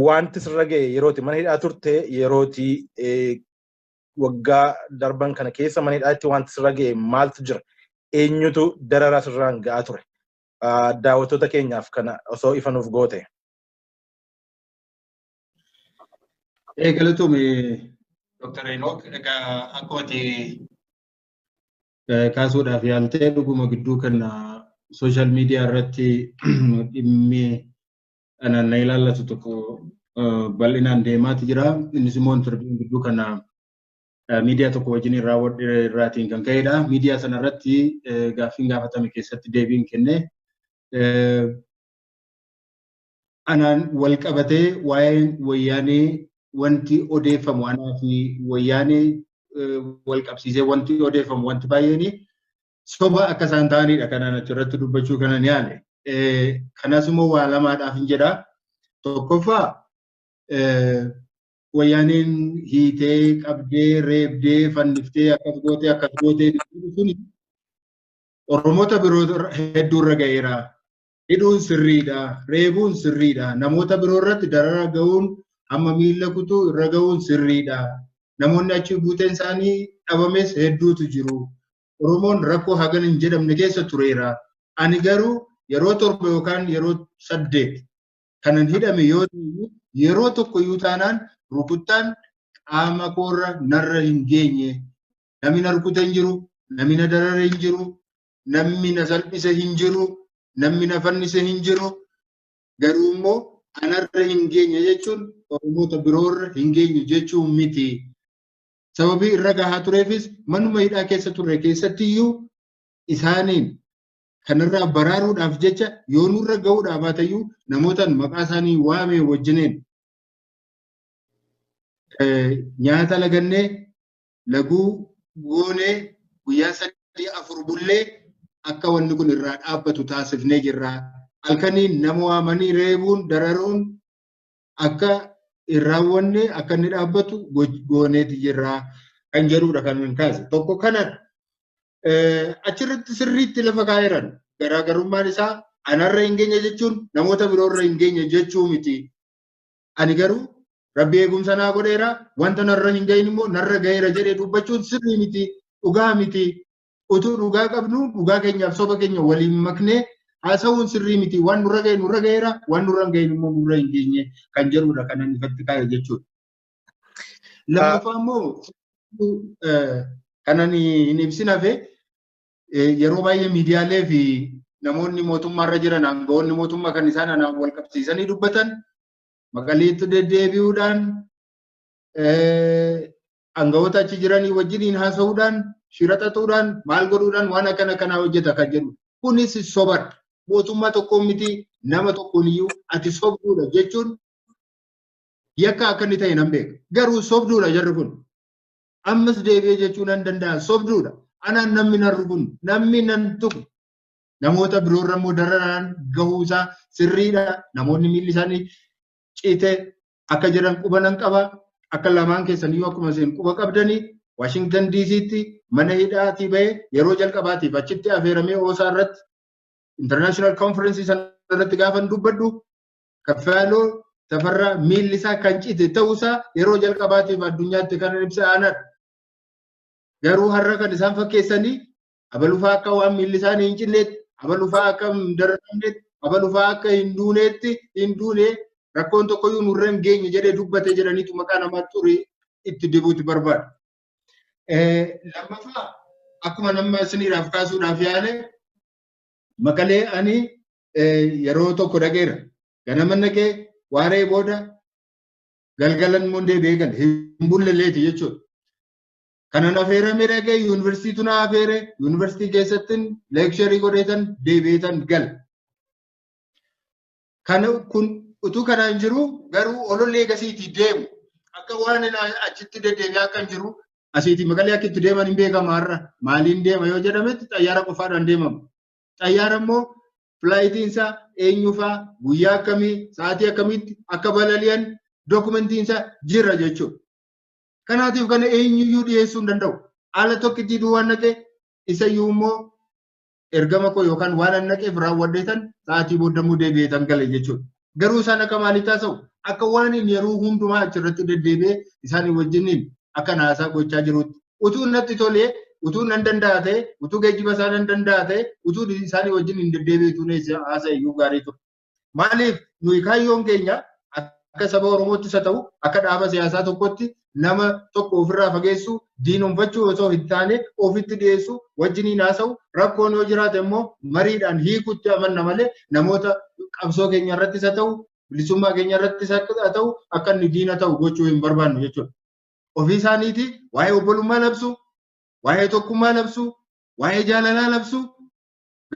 wanti sirra ga'e yerooti mana hidhaa turte yerooti waggaa darban kana keessa mana hidhaatti wanti sirra ga'e maaltu jira eenyutu dararaa sirraan ga'aa ture daawwattoota keenyaaf kana osoo ifa nuuf goote. Ee galatoome Dr. Enook egaa akkuma kaasuudhaaf yaaltee dhuguma gidduu kana sooshaal miidiyaa irratti dhimmi anaan na ilaallatu tokko bal'inaan deemaati jira. Innis immoo intarviin gidduu kana miidiyaa tokko wajjin raawwadhe irraatiin kan ka'edha. Miidiyaa sana irratti gaaffiin gaafatame keessatti deebiin kenne anaan wal qabatee waa'een wayyaanee wanti odeeffamu anaa fi wayyaanee wal qabsiisee wanti odeeffamu wanti baay'een soba akka isaan ta'anidha kanaan achirratti dubbachuu kana ni haale. Kanas immoo waa lamaadhaaf hin jedha. Tokkoffaa wayyaaneen hiitee qabdee reebdee fanniftee akkas gootee akkas gootee sun Oromoota biroo hedduurra ga'eera. Hidhuun sirriidha, reebuun sirriidha, namoota biroo irratti dararaa ga'uun hamma miila kutuu irra ga'uun sirriidha. Namoonni achi buuteen isaanii dhabames hedduutu jiru. Oromoon rakkoo hagana hin jedhamne keessa tureera. Ani garuu yeroo torba yookaan yeroo saddeet kanan hidhame yoo ta'e yeroo tokko iyyuu taanaan rukuttaan qaama koorra narra hin geenye. Namni na rukute hin jiru, namni na darare hin jiru, namni na salphise hin jiru, namni na fannise hin jiru. Garuu immoo anarra hin geenye jechuun Oromoota biroorra hin geenye jechuu miti. Sababii irra gahaa tureefis manuma hidhaa keessa turre keessatti iyyuu isaaniin kanarraa baraaruudhaaf jecha yoo nurra ga'uudhaa baatayyuu namootaan maqaa isaanii waamee wajjineen nyaata lagannee laguu goonee guyyaa sadii afur bullee akka wanni kun irraa dhaabbatu taasifnee jirra. Halkaniin nama waamanii reebuun dararuun akka hin raawwanne akka inni dhaabbatu gooneeti jirra kan jedhudha kan hin kaase. Tokko kanadha. Achirratti sirriitti lafa kaa'eeran garaagarummaan isaa anarra hin geenye jechuun namoota biroorra hin geenye jechuu miti. Ani garuu rabbi eegumsa naa godheera wanta narra hin gahin immoo narra gaheera jedhee dubbachuun sirrii miti dhugaa miti utuu dhugaa qabnu dhugaa keenyaaf soba keenya waliin maknee haasa'uun sirrii miti waan nurra gahe nurra gaheera waan nurra hin gahin immoo nurra hin geenye kan jedhudha kan inni ifatti kaa'e jechuudha. Lammaffaa immoo kan ani hin ibsin hafe yeroo baay'ee miidiyaalee fi namoonni mootummaarra jiran aangawoonni mootummaa kan isaan anaan wal qabsiisanii dubbatan maqaleetti deddeebi'uudhaan aangawoota achi jiranii wajjiniin haasa'uudhaan shira xaxuudhaan maal godhuudhaan waan akkana kanaa hojjeta kan jedhu kunis sobadha mootummaa tokkoon miti nama tokkoon iyyuu ati sobduudha jechuun yakka akka inni ta'e nan beeka garuu sobduudha jarri kun Ammas deebi'ee jechuu nan danda'a. Sobduudha. Anaan namni nan rukunne, namni nan tuqne. Namoota biroorra immoo dararaan gahuu isaa sirriidha. Namoonni miilli isaanii cite akka jiran quba nan qaba. Akka lamaan keessan iyyuu akkuma isin quba qabdanii Waashingtan DC'tti mana hidhaatii bahee yeroo jalqabaatiif achitti affeeramee oosaa irratti international conference sana irratti gaafan dubbadhu Kaffaaloo Tafarraa miilli isaa kan cite ta'uusaa yeroo jalqabaatiif addunyaatti kan ibsa aanadha. Garuu har'a kan isaan fakkeessanii abalufaa akka waan miilli isaanii hin cinneetti, abalufaa akka hin darramneetti, abalufaa akka hin duuneetti hin duune rakkoon tokkoyyuu nurra hin geenye jedhee dubbate jedhaniitu maqaa namaa xurii itti dibuuti barbaada. Lammaffaa akkuma nama isiniidhaaf kaasuudhaaf yaale maqalee ani yeroo tokko dhaqeera. Ganama dhaqee waaree booda galgalan immoo deebi'ee gale. Hin bulleleeti jechuudha. Kanan affeeramee dhaqee yuunivarsiitii tuna affeere yuunivarsiitii keessatti leeksharii godheetan deebi'eetan gale. Kana kun utuu kanaan jiru garuu ololli eegasiitii deemu akka waan achitti deddeebi'aa kan jiru asiitii maqalee akka itti deeman hin beekama har'a maaliin deema yoo jedhametti xayyaara qofaadhaan deemama. Xayyaara immoo filaayitiin isaa eenyufaa guyyaa akkamii sa'aatii akkamiitti akka balali'an dookumentiin isaa jira jechuudha. Kanaatiif kana eenyuyyuu dhiyeessuu hin danda'u. Haala tokkittii duwwaan naqee isayyuu immoo ergama koo yookaan waan an naqeef raawwadheetan sa'aatii booddamuu deebi'eetan gale jechuudha. Garuu isaan akka maaliitti haasa'u? Akka waan inni yeroo hundumaa achirratti deddeebi'ee isaanii wajjiniin akka haasaa gochaa jirutti. Utuu natti tolee, utuu nan danda'a ta'e, utuu geejjiba isaa nan danda'a ta'e, utuu isaanii wajjin hin deddeebi'e utuu haasa'e iyyuu gaarii ture. Maaliif nuyi kaayyoon keenya akka saba Oromootti isa ta'u, akka dhaaba siyaasaa tokkotti nama tokko ofirraa fageessuu diinomfachuu osoo hin taane ofitti dhiyeessuu wajjiniin haasa'u rakkoon yoo jiraate immoo mariidhaan hiikutti amanna malee namoota qabsoo keenya irrattis haa ta'u bilisummaa keenya irrattis haa ta'u akka inni diina ta'u gochuu hin barbaannu jechuudha. Ofii isaaniitii waa'ee obbolummaa labsu, waa'ee tokkummaa labsu, waa'ee jaalalaa labsu,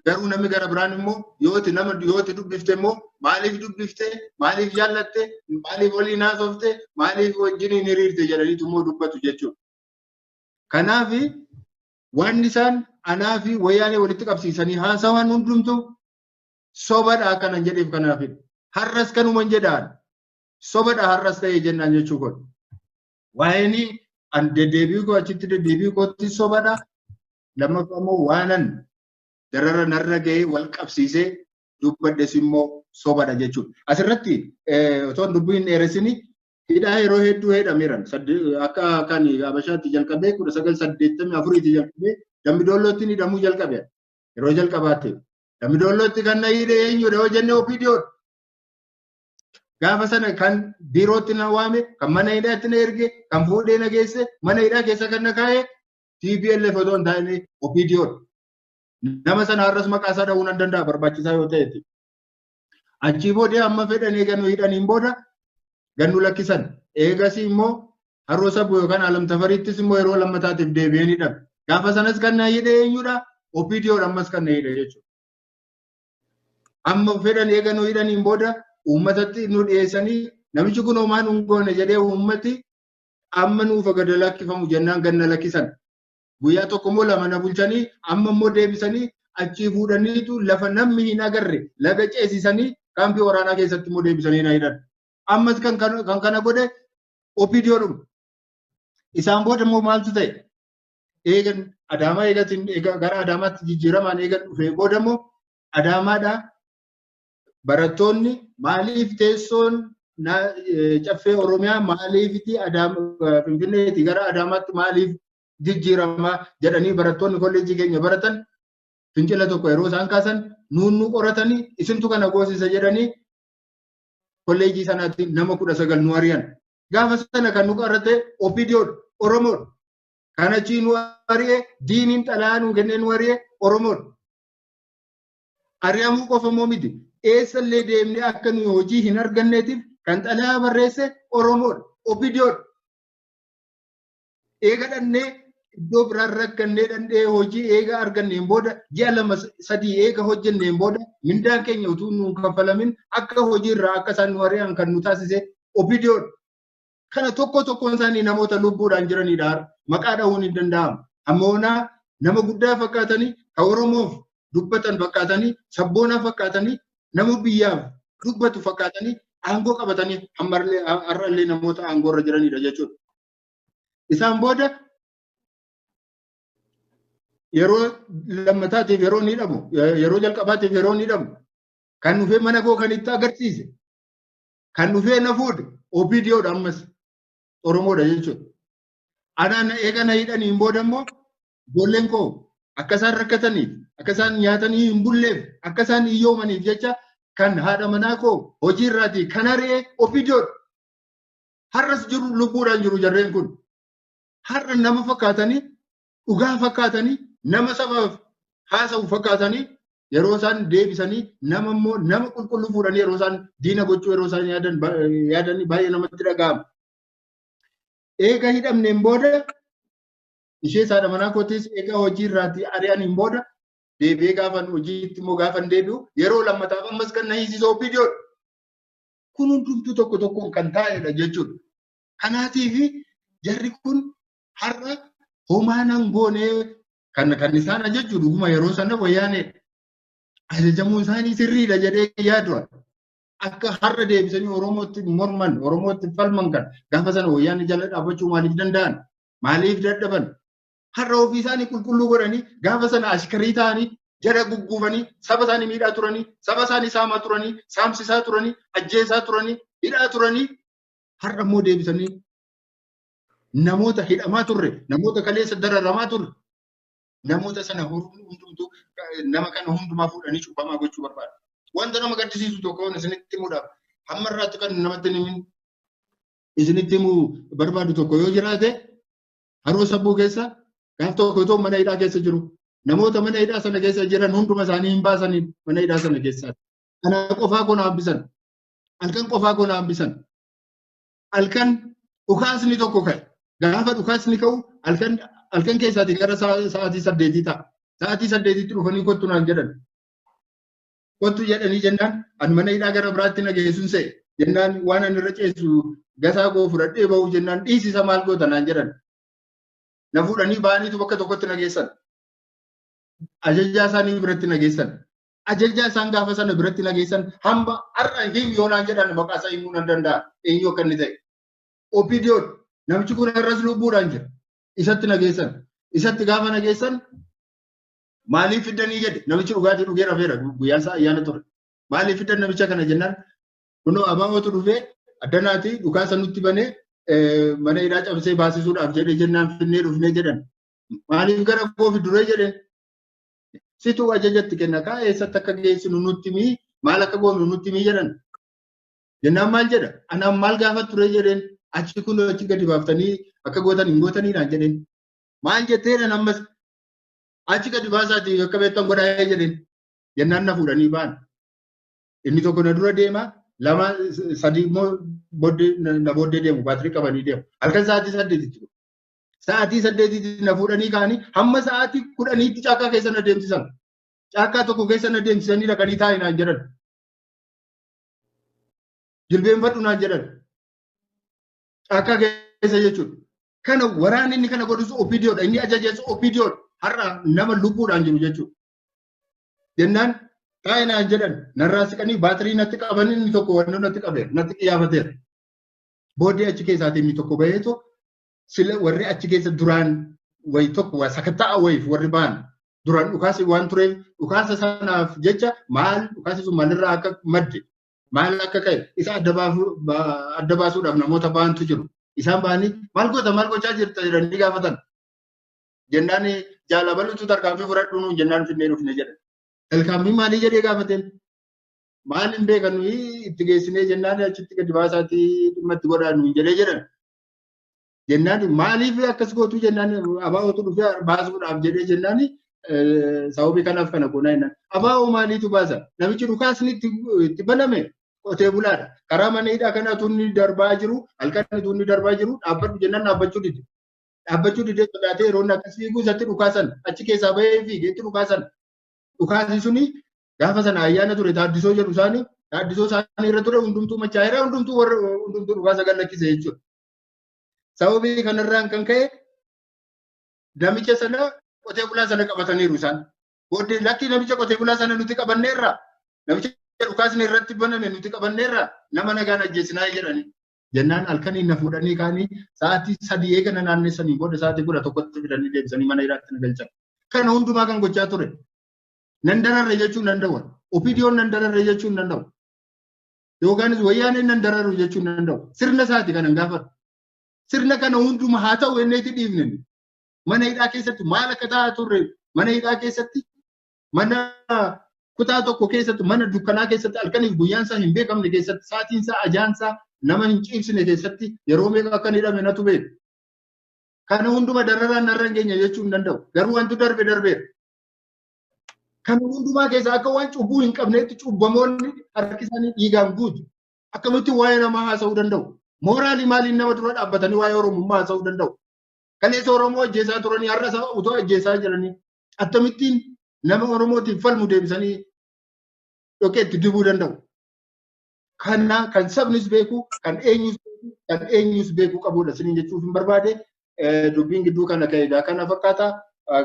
Garuu namni gara biraan immoo yoo itti nama yoo itti dubbifte immoo maaliif dubbifte maaliif jaallatte maaliif waliin haasofte maaliif wajjin hin hiriirte jedhaniitu immoo dubbatu jechuudha. Kanaaf waan isaan anaa fi wayyaanee walitti qabsiisanii haasawan hundumtu sobadha akkanan jedheef kanaafidha. Har'as kanuman jedhaan sobadha har'as ta'ee jennaan jechuu kun. Waa'een an deddeebi'uu koo achitti deddeebi'uu kootti sobadha. Lammaffaa immoo waanan darara narra ga'ee wal qabsiisee dubbadhes immoo sobadha jechuudha. Asirratti otoo hin dubbiin dheeressini hidhaa yeroo hedduu heedhameeran. Akka kan Habashaatti jalqabee kudha sagal saddeettamii afuriitii jalqabee Dambidoollootti ni hidhamuu jalqabe. Yeroo jalqabaatti Dambidoollootti kan na hidhe eenyudha yoo jenne OPDOdha. Gaafa sana kan biirootti na waame, kan mana hidhaatti na erge, kan fuudhee na geesse, mana hidhaa keessa kan na kaa'e TPLF otoo hin taane OPDO dha. Nama sana har'as maqaa isaa dha'uu nan danda'a barbaachisaa yoo ta'etti. Achii boodee amma fedhan eeganu hidhaniin booda gannu lakkisan. Eegasii immoo haroo sabu yookaan alam tafariittis immoo yeroo lammataatiif deebi'een hidhame. Gaafa sanas kan na hidhe eenyudha? OPDO dha ammas kan na hidhe jechuudha. Amma fedhan eeganu hidhaniin booda uummatatti nu dhiyeessanii namichi kun homaa nu hin goone jedhee uummati amma nuufa gada lakkifamu jennaan ganna lakkisan. Guyyaa tokko immoo lama na bulchanii amma immoo deebisanii achii fuudhaniitu lafa namni hin agarre laga ceesisanii kaampii waraanaa keessatti immoo deebisanii na hidhan. Ammas kan kana godhe OPDOdhuma. Isaan booda immoo maaltu ta'e? Eegan Adaamaa eegatiin gara Adaamaatti jijjiiramaan eegan dhufee booda immoo Adaamaadhaa barattoonni maaliif teessoon caffee Oromiyaa maaliifiti Finfinneeti gara Adaamaatti maaliif jijjiirama jedhanii barattoonni kolleejjii keenya baratan fincila tokko yeroo isaan kaasan nuunnuu qoratanii isintu kana goosisa jedhanii kolleejjii sanaatti nama kudha sagal nu ari'an. Gaafa sana kan nu qorate OPDOdha, Oromoodha. Kan achii nu ari'e diiniin xalayaa nu kennee nu ari'e Oromoodha. Ari'amuu qofa immoo miti. Eessa illee deemnee akka nuyi hojii hin arganneetiif kan xalayaa barreesse Oromoodha. Opidiyoodha. Eega dhannee iddoo biraan rakkannee dhannee hojii eega arganneen booda ji'a lama sadii eega hojjenneen booda mindaan keenya utuu nu kaffalamin akka hojiirraa akka isaan nu ari'an kan nu taasise opidiyoodha. Kana tokko tokkoon isaanii namoota lubbuudhaan jiranidha. Maqaa dhahuun hin danda'amu. Ammoonaa nama guddaa fakkaatanii kan Oromoof dubbatan fakkaatanii sabboonaa fakkaatanii nama biyyaaf dubbatu fakkaatanii aangoo qabatanii ammallee har'allee namoota aangoo irra jiranidha jechuudha. Isaan booda yeroo lammataatiif yeroo ni dhabu yeroo jalqabaatiif yeroo ni dhabu kan dhufee mana koo kan itti agarsiise Kan dhufee na fuudhe OPDOdha ammas Oromoodha jechuudha. Anaan eega na hidhanii hin booda immoo ijoolleen koo akka isaan rakkataniif akka isaan nyaatanii hin bulleef akka isaan hiyyoomaniif jecha kan haadha manaa koo hojii irraatii kan ari'e OPDOdha. Har'as jiru lubbuudhaan jiru jarreen kun. Har'a nama fakkaatanii dhugaa fakkaatanii nama sabaaf haasa'u fakkaatanii yeroo isaan deebisanii nama immoo nama qulqulluu fuudhanii yeroo isaan diina gochuu yeroo isaan yaadan yaadanii baay'ee namatti dhaga'ama. Eega hidhamneen booda ishee saadha manaa kootis egaa hojii irraatti ari'aniin booda deebi'ee gaafan hojiitti immoo gaafan deebi'u yeroo lammataaf ammas kan na hiisisu OPDO dha. Kun hundumtuu tokko tokkoon kan taa'edha jechuudha. Kanaatiif jarri kun Har'a homaa nan goonee kan kan isaan ajajju dhuguma yeroo sana wayyaanee ajajamuun isaanii sirriidha jedhee yaadu. Akka har'a deebisanii Oromootti morman, Oromootti falman kan gaafa sana wayyaanee jala dhaabbachuu maaliif danda'an? Maaliif dadhaban? Har'a ofii isaanii qulqulluu godhanii gaafa sana ashkarii ta'anii jala gugguufanii saba isaanii miidhaa turanii saba isaanii saamaa turanii saamsisaa turanii ajjeesaa turanii hidhaa turanii har'a immoo deebisanii Namoota hidhamaa turre, namoota kaleessa dararamaa turre, namoota sana hundumtuu nama kana hundumaa fuudhanii cubbamaa gochuu barbaadu. Wanta nama gaddisiisu tokko waan isinitti himuudhaaf hamma irraatti kan namatti himin isinitti himuu barbaadu tokko yoo jiraate haroo sabbuu keessa gaaf tokko otoo mana hidhaa keessa jiru namoota mana hidhaa sana keessa jiran hunduma isaanii hin baasanii mana hidhaa sana keessaati. Kana qofaa koo na hambisan. Halkan qofaa koo na hambisan. halkan dhukaasni tokko ka'e. Gaafa dhukaasni ka'u halkan halkan keessaati gara sa'aatii saddeetii ta'a. Sa'aatii saddeetitti dhufanii kottu naan jedhan. Kottu jedhanii jennaan ani mana hidhaa gara biraatti na geessuun se'e. Jennaan waan ani irra ceessu gasaa koo fudhadhee bahu jennaan dhiisisa maal goota naan jedhan. Na fuudhanii ba'aniitu bakka tokkotti na geessan. Ajajaa isaanii biratti na geessan. ajajaa isaan gaafa sana biratti nageessan hamba har'a him yoo naan jedhan maqaa isaa himuu nan danda'a eenyu akka inni ta'e. Opidiyoon namichi kun irras lubbuudhaan jira. Isatti nageessan. Isatti gaafa nageessan maaliif fiddanii jedhe namichi dhugaatii dhugee rafeera guyyaan isaa ayyaana ture. Maaliif fiddan namicha kana jennaan kunoo abaabootu dhufee addanaatii dhukaasa nutti banee mana hidhaa cabsee baasisuudhaaf jedhe jennaan finnee dhufnee jedhan. Maaliif gara koofi duree jedhe situ ajaja itti kenna kaa eessatti akka geessinu nutti himii maal akka goonu nutti himii jedhan. Jennaan maal jedha? Anaan maal gaafa ture jedheen achi kun achi gadi baaftanii akka gootan hin gootanii naan jedheen. Maal jetteedhaan ammas achi gadi baasaatii akka beektan godhaa jedheen. Jennaan na fuudhanii ba'an. Inni tokko na dura deema lama sadii immoo booddee na booddee deemu baatirii qabanii deemu. Halkan sa'aatii saddeetitti Sa'aatii saddeetiitti na fuudhanii ka'anii hamma sa'aatii kudhaniitti caakkaa keessa na deemsisan. Caakkaa tokko keessa na deemsisanii dhaqanii taa'e naan jedhan. Jilbeenfadhu naan jedhan. Caakkaa keessa jechuudha. Kana waraanni inni kana godhus OPDOdha. Inni ajajees OPDOdha. Har'a nama lubbuudhaan jiru jechuudha. Jennaan taa'e naan jedhan narraa siqanii baatirii natti qabanii inni tokko wannoo natti qabeera natti qiyaafateera. Booddee achi keessaatii inni tokko baheetu sila warri achi keessa duraan wayi tokko waa sakatta'a wayiif warri ba'an duraan dhukaasi waan tureef dhukaasa sanaaf jecha maal dhukaasi sun maalirraa akka madde maal akka ka'e isa adda baafuu- ba- adda baasuudhaaf namoota ba'antu jiru. Isaan ba'anii maal goota maal gochaa jirta jedhanii gaafatan. Jennaan jaalabalutu tarkaanfii fudhadhu nuun jennaan finnee dhufne jedhan. Tarkaanfii maalii jedhee gaafateen? Maal hin beekan nuyi itti geessinee jennaan achitti gadi baasaatii dhimma itti godhaa nuun jedhee jedhan. Jennaan maaliif akkas gootuu jennaan abaa'ootu dhufee baasuudhaaf jedhee jennaan sababii kanaaf kana goonaa jennaan. Abaa'oo maaliitu baasa? Namichi dhukaasni itti baname qotee bulaadha. Karaa mana hidhaa kana tunni darbaa jiru halkan tunni darbaa jiru dhaabbadhu jennaan dhaabbachuu dide. Dhaabbachuu didee sodaatee yeroo inni akkas fiigu isatti dhukaasan achi keessaa bahee fiigee itti dhukaasan. Dhukaasi suni Gaafa sana ayyaana ture taaddisoo jedhu isaanii taaddisoo isaanii irra ture hundumtuu machaa'eera hundumtuu warra hundumtuu dhukaasa gad lakkise jechuudha. Sababii kanarraan kan ka'e namicha sana qotee bulaa sana qabataniiru isaan. Booddee lakkii namicha qotee bulaa sana nuti qabanneerra namicha dhukaasni irratti baname nuti qabanneerra nama nagaan ajjeesinaa jedhanii. Jennaan halkanii na fuudhanii kaanii sa'aatii sadii eegana naannessanii booda sa'aatii kudha tokkotti fidanii deebisanii mana hiraatti na galchan. Kana hundumaa kan gochaa ture. Nan dararre jechuun nan dawwan. Opidiyoon nan dararre jechuun nan dawwa. Yoogaanis wayyaaneen nan dararru jechuun nan dawwa. Sirna isaati kanan gaafadhu. Sirna kana hunduma haa ta'u jennee itti dhiifne. Mana hidhaa keessatti maal akka ta'aa turre mana hidhaa keessatti mana kutaa tokko keessatti mana dukkanaa keessatti halkaniif guyyaan isaa hin beekamne keessatti saatiin isaa ajaan isaa nama hin ciibsine keessatti yeroo meeqa akka hidhame natu beeka. Kana hunduma dararaan narra hin geenye jechuun danda'u. Garuu wanti darbe darbeera. Kan hundumaa keessaa akka waan cubbuu hin qabneetti cubbamoonni harki isaanii dhiigaan guutu. Akkamitti waa'ee namaa haasa'uu danda'u? Mooraalii maaliin nama dura dhaabbatanii waa'ee Oromummaa haasa'uu danda'u? Kaleessa Oromoo ajjeesaa turanii har'a isaa utuu ajjeesaa jiranii akkamittiin nama Oromootiif falmu deebisanii dhoqeetti dibuu danda'u? Kana kan sabnis beeku, kan eenyus beeku, kan eenyus beeku qabudha isiniin jechuuf hin barbaade. Dubbiin gidduu kana ka'e egaa kana fakkaata.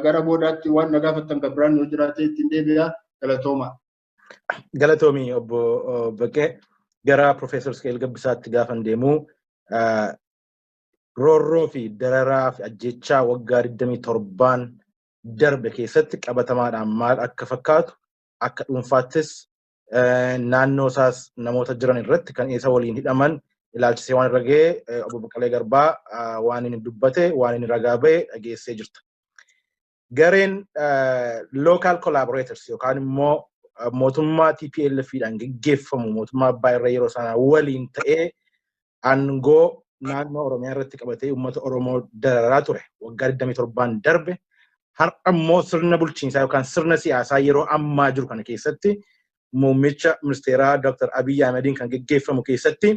Gara boodaatti waan na gaafattan kan biraan yoo jiraate ittiin deebi'a. Galatooma. Galatoomii obbo Baqqee gara Profeesar Isqeel Gabbisaatti gaafan deemu roorroo fi dararaa fi ajjechaa waggaa 27 darbe keessatti qabatamaadhaan maal akka fakkaatu akka dhuunfaattis naannoo isaas namoota jiran irratti kan isa waliin hidhaman ilaalchisee waan irra ga'e obbo Baqqalee Garbaa waan inni dubbate waan inni ragaa ba'e dhageessee jirta. Gareen local collaborators yookaan immoo mootummaa TPLF dhaan geggeeffamu mootummaa abbaa irra yeroo sana waliin ta'ee aangoo naannoo Oromiyaa irratti qabatee uummata Oromoo dararaa ture waggaa 27 darbe har'a immoo sirna bulchiinsaa yookaan sirna siyaasaa yeroo ammaa jiru kana keessatti muummicha ministeeraa Dr. Abiy Ahmediin kan geggeeffamu keessatti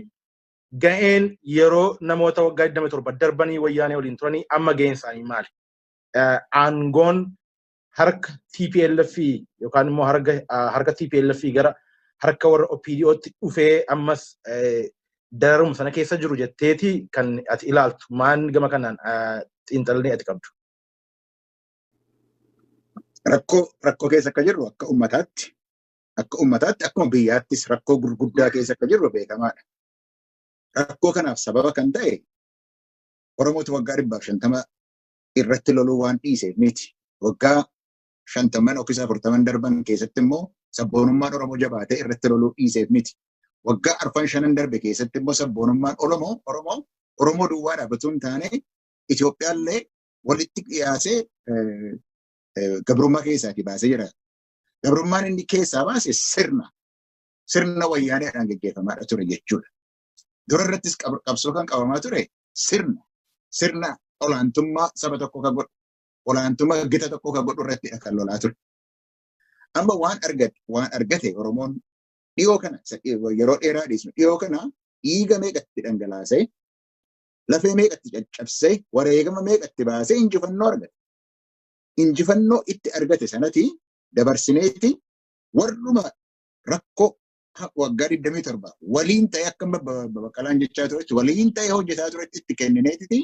ga'een yeroo namoota waggaa 27 darbanii wayyaanee waliin turanii amma ga'een isaanii maali? Aangoon harka TPLF yookaan immoo harka TPLF gara harka warra OPDOtti dhufee ammas dararuma sana keessa jiru jetteeti kan ati ilaaltu maan gama kanaan xiinxalanii ati qabdu. Rakkoo rakkoo keessa akka jirru akka ummataatti akka ummataatti akkuma biyyaattis rakkoo gurguddaa keessa akka jirru beekamaadha. Rakkoo kanaaf sababa kan ta'e Oromoota waggaa dhibbaaf shantama irratti loluu waan dhiiseef miti. Waggaa shantamman yookiis afurtaman darban keessatti immoo sabboonummaan Oromoo jabaatee irratti loluu dhiiseef miti. Waggaa arfan shanan darbe keessatti immoo sabboonummaan Oromoo Oromoo Oromoo duwwaa dhaabbatuu hin taane Itoophiyaallee walitti dhiyaasee gabrummaa keessaatii baasee jira. Gabrummaan inni keessaa baase sirna sirna wayyaaneedhaan gaggeeffamaadha ture jechuudha. Dura irrattis qabsoo kan qabamaa ture sirna sirna olaantummaa saba tokko ka godhu olaantummaa gita tokko ka godhu irratti kan lolaa ture. Amma waan argate waan argate Oromoon dhiyoo kana yeroo dheeraa dhiisnu dhiyoo kana dhiiga meeqatti dhangalaasee lafee meeqatti caccabsee wareegama meeqatti baasee injifannoo argate. Injifannoo itti argate sanati dabarsineeti warruma rakkoo waggaa 27 waliin ta'ee akka baqqalaan jechaa turetti waliin ta'ee hojjetaa turetti itti kennineetiti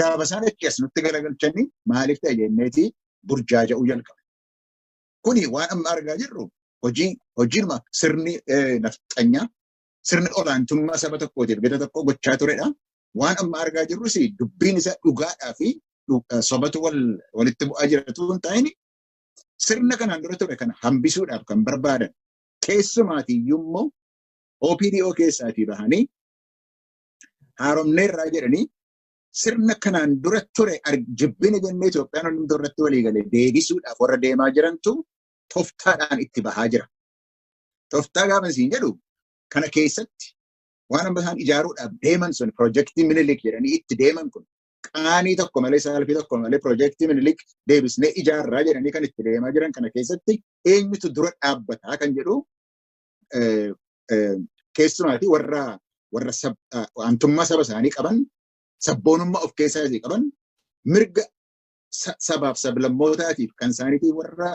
gaafa isaan achi as nutti galagalchanii maaliif ta'e jenneeti burjaaja'uu jalqabe. Kuni waan amma argaa jirru hojii hojiinuma sirni nafxanyaa sirni olaantummaa saba tokkootiif gita tokko gochaa turedha. Waan amma argaa jirrus dubbiin isaa dhugaadhaa fi sobatu walitti bu'aa jiratu hin taane sirna kanaan dura ture kana hambisuudhaaf kan barbaadan Keessumaati iyyuu immoo OPDO keessaatii bahanii haaromneerraa jedhanii sirna kanaan dura ture jibbina jennee Itoophiyaan hundumtuu irratti walii galee deebisuudhaaf warra deemaa jirantu toftaadhaan itti bahaa jira. Toftaa gaafa isin jedhu kana keessatti waan amma isaan ijaaruudhaaf deeman sun piroojeektii minilik jedhanii itti deeman kun qaanii tokko malee saalfii tokko malee piroojeektii minilik deebisnee ijaarraa jedhanii kan itti deemaa jiran kana keessatti eenyutu dura dhaabbataa kan jedhu keessumaatii warra warra aantummaa saba isaanii qaban sabboonummaa of keessaa isii qaban mirga sabaaf sablammootaatiif kan isaaniitii warra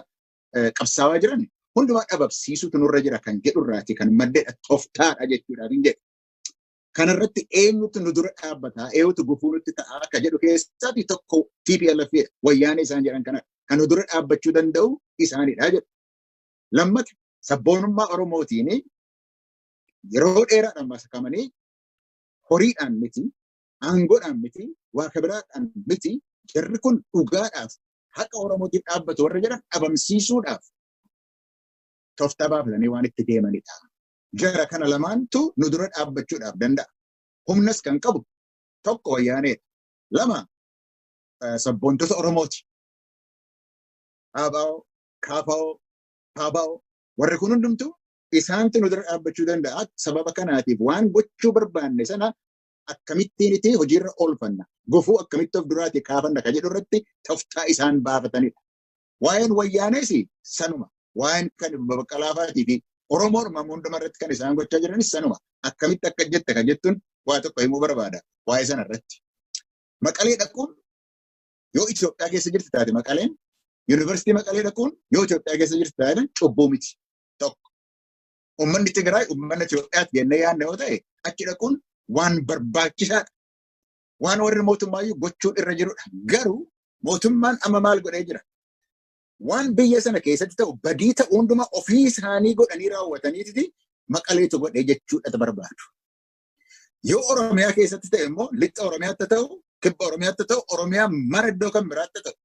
qabsaawaa jiran hundumaa dhabamsiisuutu nurra jira kan jedhu irraati kan maddedha toftaadha jechuudhaaf hin jedhu. Kanarratti eenyutu nu dura dhaabbataa, eenyutu gufuu nutti ta'aa akka jedhu keessaa fi tokko TPLF wayyaanee isaan jedhan kanadha. Kan nu dura dhaabbachuu danda'u isaanidha jedhu. Lammata sabboonummaa Oromootiin yeroo dheeraadhaan masakamanii horiidhaan miti, aangoodhaan miti, waa kabiraadhaan miti, jarri kun dhugaadhaaf haqa Oromootiif dhaabbatu warra jedhan dhabamsiisuudhaaf toftaa baafatanii waan itti deemanidha. Jara kana lamaantu nu dura dhaabbachuudhaaf danda'a. Humnas kan qabu tokko wayyaaneedha. Lama sabboontota Oromooti. Haabaa'oo, Kaafaa'oo, Paabaa'oo warri kun hundumtu isaantu nu dura dhaabbachuu danda'a. Sababa kanaatiif waan gochuu barbaanne sana akkamittiin itti hojiirra oolfanna. Gufuu akkamitti of duraatii kaafanna ka jedhu irratti toftaa isaan baafatanidha. Waa'een wayyaanees sanuma. Waa'een kan baqqalaafaatii fi Oromoo Oromoo hunduma irratti kan isaan gochaa jiranis sanuma. Akkamitti akka jette kan jettuun waa tokko himuu barbaada waa'ee sana irratti. Maqalee dhaquun yoo Itoophiyaa keessa jirti taate maqaleen yuunivarsiitii maqalee dhaquun yoo Itoophiyaa keessa jirti taate cubbuu miti. Tokko. Uummanni Tigraay uummanni Itoophiyaatti jennee yaadne yoo ta'e achi dhaquun waan barbaachisaadha. waan warri mootummaayyuu gochuu irra jirudha. Garuu mootummaan amma maal godhee jira? Waan biyya sana keessatti ta'u badii ta'u hundumaa ofii isaanii godhanii raawwataniiti maqaleetu godhee jechuudha barbaadu. Yoo Oromiyaa keessatti ta'e immoo lixa Oromiyaatti ta'u, kibba Oromiyaatti ta'u, Oromiyaa mara iddoo kan biraatti ta'u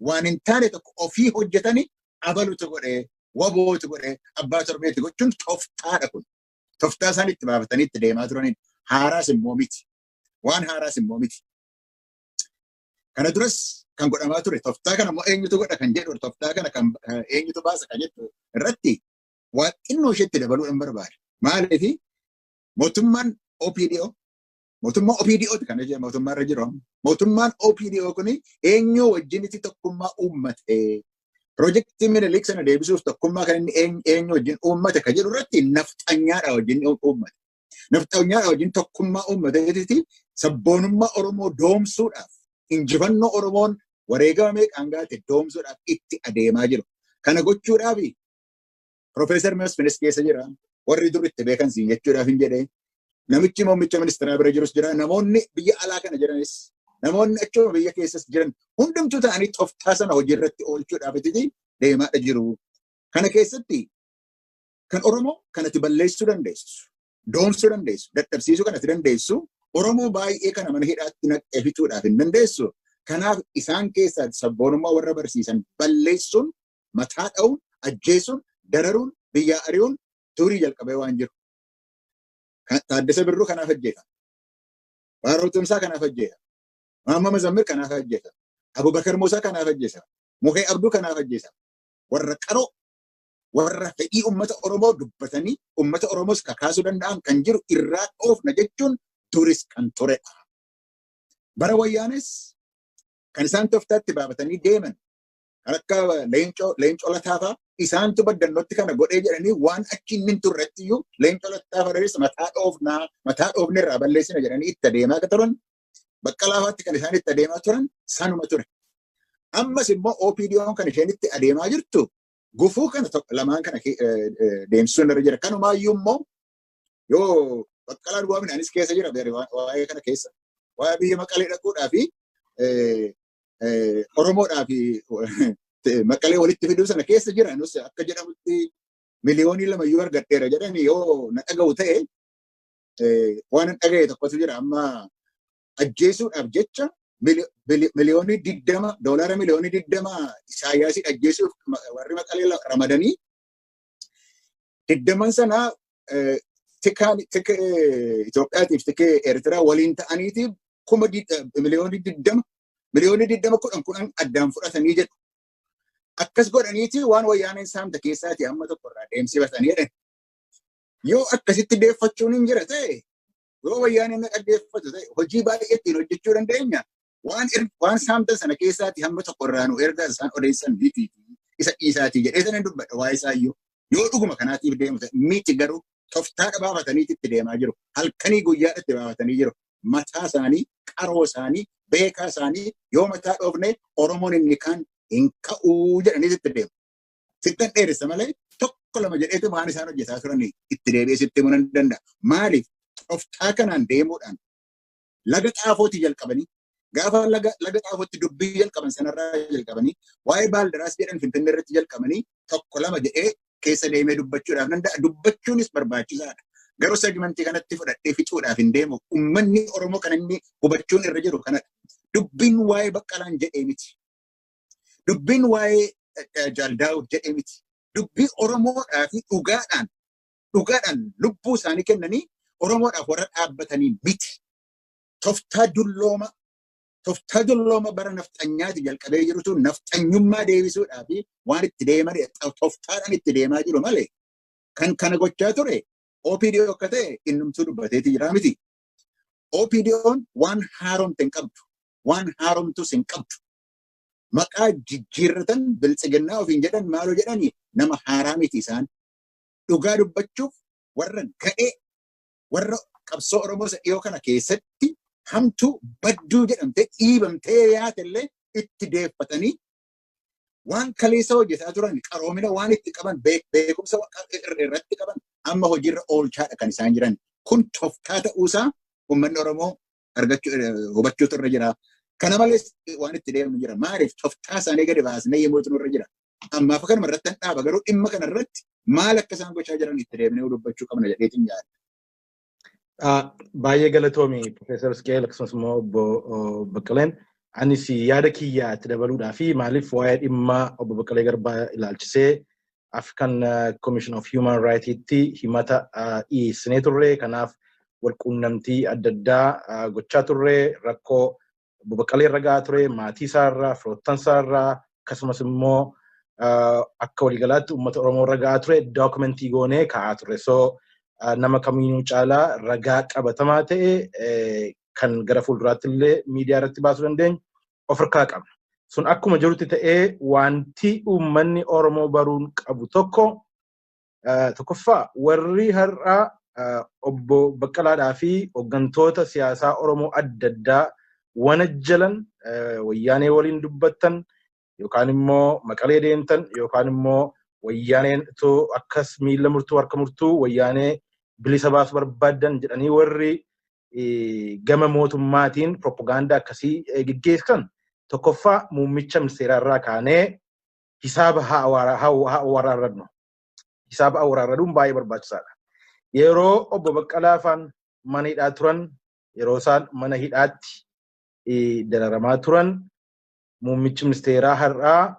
waan hin taane tokko ofii hojjetanii abalutu godhee, wabootu godhee, abbaa torbeetti gochuun toftaadha kun. Toftaa isaan itti baafatanii itti deemaa turanidha. Haaraas immoo miti. Waan haaraas immoo miti. Kana duras kan godhamaa ture toftaa kana immoo eenyutu godha kan jedhu toftaa kana kan eenyutu baasa kan jedhu irratti waa xinnoo isheetti dabaluudhaan barbaada. Maaliif mootummaan OPDO mootummaa OPDO ti kan jedhamu mootummaa irra jiru mootummaan OPDO kun eenyuu wajjinitti tokkummaa uummate pirojektii minilik sana deebisuuf tokkummaa kan inni eenyu wajjin uummate kan jedhu irratti nafxanyaadha wajjin uummate. Nafxanyaa wajjin tokkummaa uummateetiti sabboonummaa Oromoo doomsuudhaaf injifannoo Oromoon wareegama meeqaan gaate doomsuudhaaf itti adeemaa jiru. Kana gochuudhaaf Profeesar Masfinis keessa jira. Warri dur itti beekan siin jechuudhaaf hin jedhee. Namichi muummicha ministeeraa bira jirus jira. Namoonni biyya alaa kana jiranis namoonni achuma biyya keessas jiran hundumtuu ta'anii toftaa sana hojii irratti oolchuudhaaf itti deemaadha jiru. Kana keessatti Kan Oromoo kan ati balleessuu dandeessu, doomsuu dandeessu, dadhabsiisuu kan ati dandeessu, Oromoo baay'ee kana mana hidhaatti naqxee fixuudhaaf hin dandeessu. Kanaaf isaan keessaa sabboonummaa warra barsiisan balleessuun, mataa dha'uun, ajjeesuun, dararuun, biyyaa ari'uun durii jalqabee waan jiru. Kan- Taaddasa Birruu kanaaf ajjeefame. Baaroo Tumsaa kanaaf ajjeefame. Maamma Mazammir kanaaf ajjeefame. Abubakar Muusaa kanaaf ajjeefame. Muhee Abduu kanaaf ajjeefame. Warra qaroo warra fedhii uummata Oromoo dubbatanii uummata Oromoos kakaasuu danda'an kan jiru irraa dhoofna jechuun duris kan turedha. Bara wayyaanis kan isaan toftaatti baafatanii deeman kan akka leencoo leencoo lataafaa isaantu baddannootti kana godhee jedhanii waan achi inni hin turretti iyyuu leencoo lataafaa dheeressa mataa dhoofnaa mataa dhoofne irraa balleessina jedhanii itti adeemaa akka turan baqqalaafaatti kan isaan itti adeemaa turan sanuma ture. Ammas immoo OPDOn kan isheen itti adeemaa jirtu gufuu kana tokko lamaan kana ke- eh, eh, deemsisuu irra jira. Kanumaayyuu immoo yoo baqqalaa duwwaa midhaanis keessa jira beere waa- waa'ee kana keessa. Waa'ee biyya maqalee dhaquudhaa fi eh, eh, Oromoodhaa fi eh, maqalee walitti fiduu sana keessa jira. Nus akka jedhamutti miliyoonii lama yoo argadheera jedhani yoo na dhaga'u ta'e eh, waan hin dhaga'e tokkotu jira. Amma ajjeesuudhaaf jecha miliyoonii digdama doolaara miliyoonii digdama Isaayyaasii ajjeesuuf warri maqalee ramadanii digdaman sana tikaan Itoophiyaatiif tikee Eertiraa waliin ta'aniitiif kuma miliyoonii digdama miliyoonii digdama kudhan kudhan addaan fudhatanii jedhu. Akkas godhaniiti waan wayyaaneen saamte keessaati amma tokko irraa deemsifatanii jedhan. Yoo akkasitti deeffachuun hin jira ta'e yoo wayyaanee na dhaggeeffatu ta'e hojii baay'ee ittiin hojjechuu dandeenya. Waan er- waan saamtan sana keessaati hamma tokko irraa nu erga isaan odeessan miti isa dhiisaati jedhee sana hin dubbadha waa'ee isaa iyyuu. Yoo dhuguma kanaatiif deemu ta'e miti garuu toftaa dhabaafataniiti itti deemaa jiru. Halkanii guyyaa itti baafatanii jiru. Mataa isaanii, qaroo isaanii, beekaa isaanii yoo mataa dhoofne Oromoon inni kaan hin ka'uu jedhanii itti deemu. Sittan dheeressa malee tokko lama jedheetu waan isaan hojjetaa turan itti deebi'ee sitti himuu nan danda'a. Maaliif toftaa kanaan deemuudhaan laga xaafootii jalqabanii gaafa laga laga xaafootti dubbii jalqaban sanarraa jalqabanii waa'ee baaldaraas jedhan finfinnee irratti jalqabanii tokko lama jedhee keessa deemee dubbachuudhaaf nan danda'a. Dubbachuunis barbaachisaadha. Garuu segmentii kanatti fudhadhee fixuudhaaf hin deemu. Uummanni Oromoo kan inni hubachuun irra jiru kanadha. Dubbiin waa'ee baqqalaan jedhee miti. Dubbiin waa'ee Jaal Daawud jedhee miti. Dubbii Oromoodhaa fi dhugaadhaan dhugaadhaan lubbuu isaanii kennanii Oromoodhaaf warra dhaabbatanii miti. Toftaa dullooma toftaa dullooma bara nafxanyaati jalqabee jirutu nafxanyummaa deebisuudhaa fi waan itti deeman toftaadhaan itti deemaa jiru malee kan kana gochaa ture OPDO akka ta'e innumtuu dubbateeti jira miti. OPDOn waan haaromte hin qabdu. Waan haaromtus hin qabdu. Maqaa jijjiirratan biltsiginnaa ofiin jedhan maaloo jedhanii nama haaraa miti isaan. Dhugaa dubbachuuf warra gadhee warra qabsoo Oromoo isa dhiyoo kana keessatti hamtuu badduu jedhamtee dhiibamtee yaate illee itti deeffatanii waan kaleessa hojjetaa turan qaroomina waan itti qaban beekumsa irratti qaban amma hojiirra oolchaadha kan isaan jiran. Kun toftaa ta'uusaa uummanni Oromoo argachuu hubachuutu irra jira. Kana malees waan itti deemnu jira. Maaliif toftaa isaanii gadi baasnee yemmuutu nurra jira. Ammaaf kanuma irratti hin dhaaba garuu dhimma kana irratti maal akka isaan gochaa jiran itti deemnee dubbachuu qabna jedheetiin yaada. Baay'ee galatoomi Profeesar Isqeel akkasumas immoo obbo Baqqaleen. Anis yaada kiyya itti dabaluudhaa fi maaliif waa'ee dhimma obbo Baqqalee Garbaa ilaalchisee African Commission of Human Rights'tti himata dhiyeessinee turre. Kanaaf walquunnamtii adda addaa gochaa turre. Rakkoo Obbo Baqqalee irra gahaa ture, maatii isaa irraa, firoottan isaa irraa, akkasumas immoo akka waliigalaatti uummata Oromoo irra gahaa ture dookumentii goonee kaa'aa turre. So nama kamiinuu caalaa ragaa qabatamaa ta'e kan gara fuulduraatti illee miidiyaa irratti baasuu dandeenyu ofirkaa qabna. Sun akkuma jirutti ta'ee wanti uummanni Oromoo baruun qabu tokko tokkoffaa warri har'a obbo Baqqalaadhaa fi hoggantoota siyaasaa Oromoo adda addaa wanajjalan wayyaanee waliin dubbattan yookaan immoo maqalee deemtan yookaan immoo wayyaaneen itoo akkas miila murtuu harka murtuu wayyaanee bilisa baasu barbaaddan jedhanii warri gama mootummaatiin piroopagaandaa akkasii geggeessan tokkoffaa muummicha ministeeraa irraa kaanee hisaaba haa waraarrannu. Hisaaba haa waraarranuun baay'ee barbaachisaadha. Yeroo obbo Baqqalaa faan mana hidhaa turan yeroo isaan mana hidhaatti dararamaa turan muummichi ministeeraa har'aa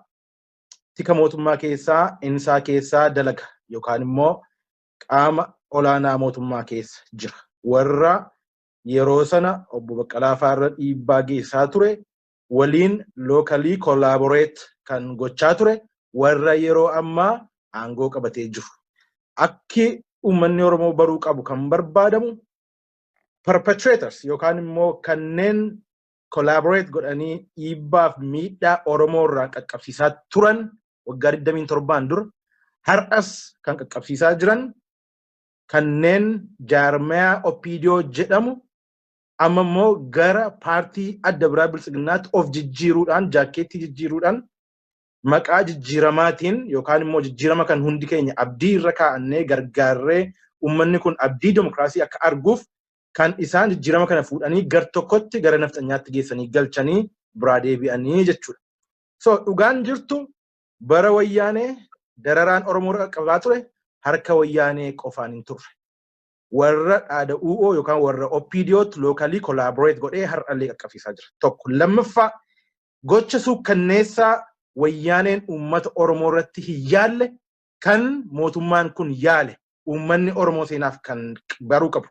tika mootummaa keessaa insaa keessaa dalaga yookaan immoo qaama olaanaa mootummaa keessa jira. Warra yeroo sana obbo Baqqalaa fa'aa irra dhiibbaa geessaa ture waliin locally collaborate kan gochaa ture warra yeroo ammaa aangoo qabatee jiru. Akki uummanni Oromoo baruu qabu kan barbaadamu perpetrators yookaan immoo kanneen collaborate godhanii dhiibbaaf miidhaa Oromoo irraa qaqqabsiisaa turan waggaa 27 dura har'as kan qaqqabsiisaa jiran kanneen jaarmayaa OPDO jedhamu amma immoo gara paartii adda biraa biltsiginnaatti of jijjiiruudhaan jaakkeettii jijjiiruudhaan maqaa jijjiiramaatiin yookaan immoo jijjiirama kan hundi keenya abdii irra kaa'annee gargaarree ummanni kun abdii demokraasii akka arguuf kan isaan jijjiirama kana fuudhanii gar tokkotti gara nafxanyaatti geessanii galchanii biraa deebi'anii jechuudha. So dhugaan jirtu bara wayyaanee dararaan Oromoo irra qaqqabaa ture harka wayyaanee qofaan hin turre. Warra dhaada UO yookaan warra OPDOtti lookalii collaborate godhee har'allee qaqqabsiisaa jira. Tokko lammaffaa gocha suukkanneessaa wayyaaneen uummata Oromoo irratti hin yaalle kan mootummaan kun yaale uummanni Oromoo seenaaf kan baruu qabu.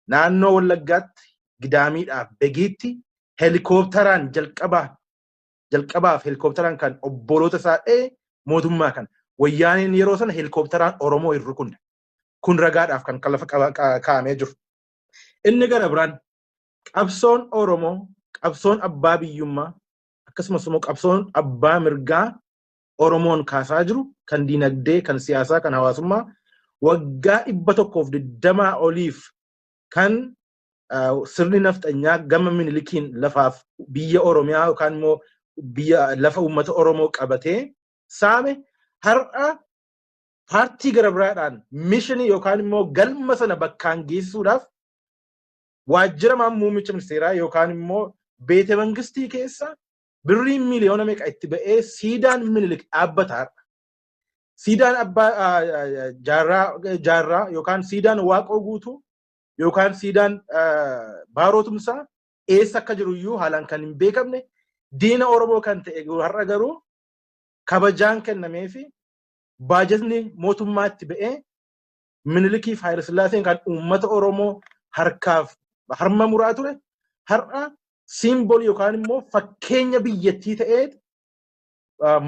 Naannoo Wallaggaatti Gidaamiidhaaf Begiitti helikooptaraan jalqabaa jalqabaaf helikooptaraan kan obboloota isaa dha'e mootummaa kana. Wayyaaneen yeroo sana helikooptaraan Oromoo hin rukunne. Kun ragaadhaaf kan lafa kaa'amee jiru. Inni gara biraan qabsoon Oromoo qabsoon abbaa biyyummaa akkasumas immoo qabsoon abbaa mirgaa Oromoon kaasaa jiru kan dinagdee, kan siyaasaa, kan hawaasummaa waggaa dhibba tokkoof digdamaa oliif kan sirni nafxanyaa gama minilikiin lafaaf biyya Oromiyaa yookaan immoo biyya lafa uummata Oromoo qabatee saame har'a paartii gara biraadhaan mishinii yookaan immoo galma sana bakkaan geessuudhaaf waajjira muummicha ministeeraa yookaan immoo beete mangistii keessa birriin miiliyoona meeqa itti ba'ee siidaan minilik dhaabbata har'a. Siidaan abbaa ah, ah, jaarraa jaarraa yookaan siidaan waaqoo guutuu yookaan siidaan ah, baaroo tumsaa eessa akka jiru iyyuu haalaan kan hin beekamne diina Oromoo kan ta'e har'a garuu kabajaan kennamee fi baajatni mootummaatti ba'ee Minilikiif Haayilasillaaseen kan uummata Oromoo harkaaf harma muraa ture har'a siimbolii yookaan immoo fakkeenya biyyattii ta'ee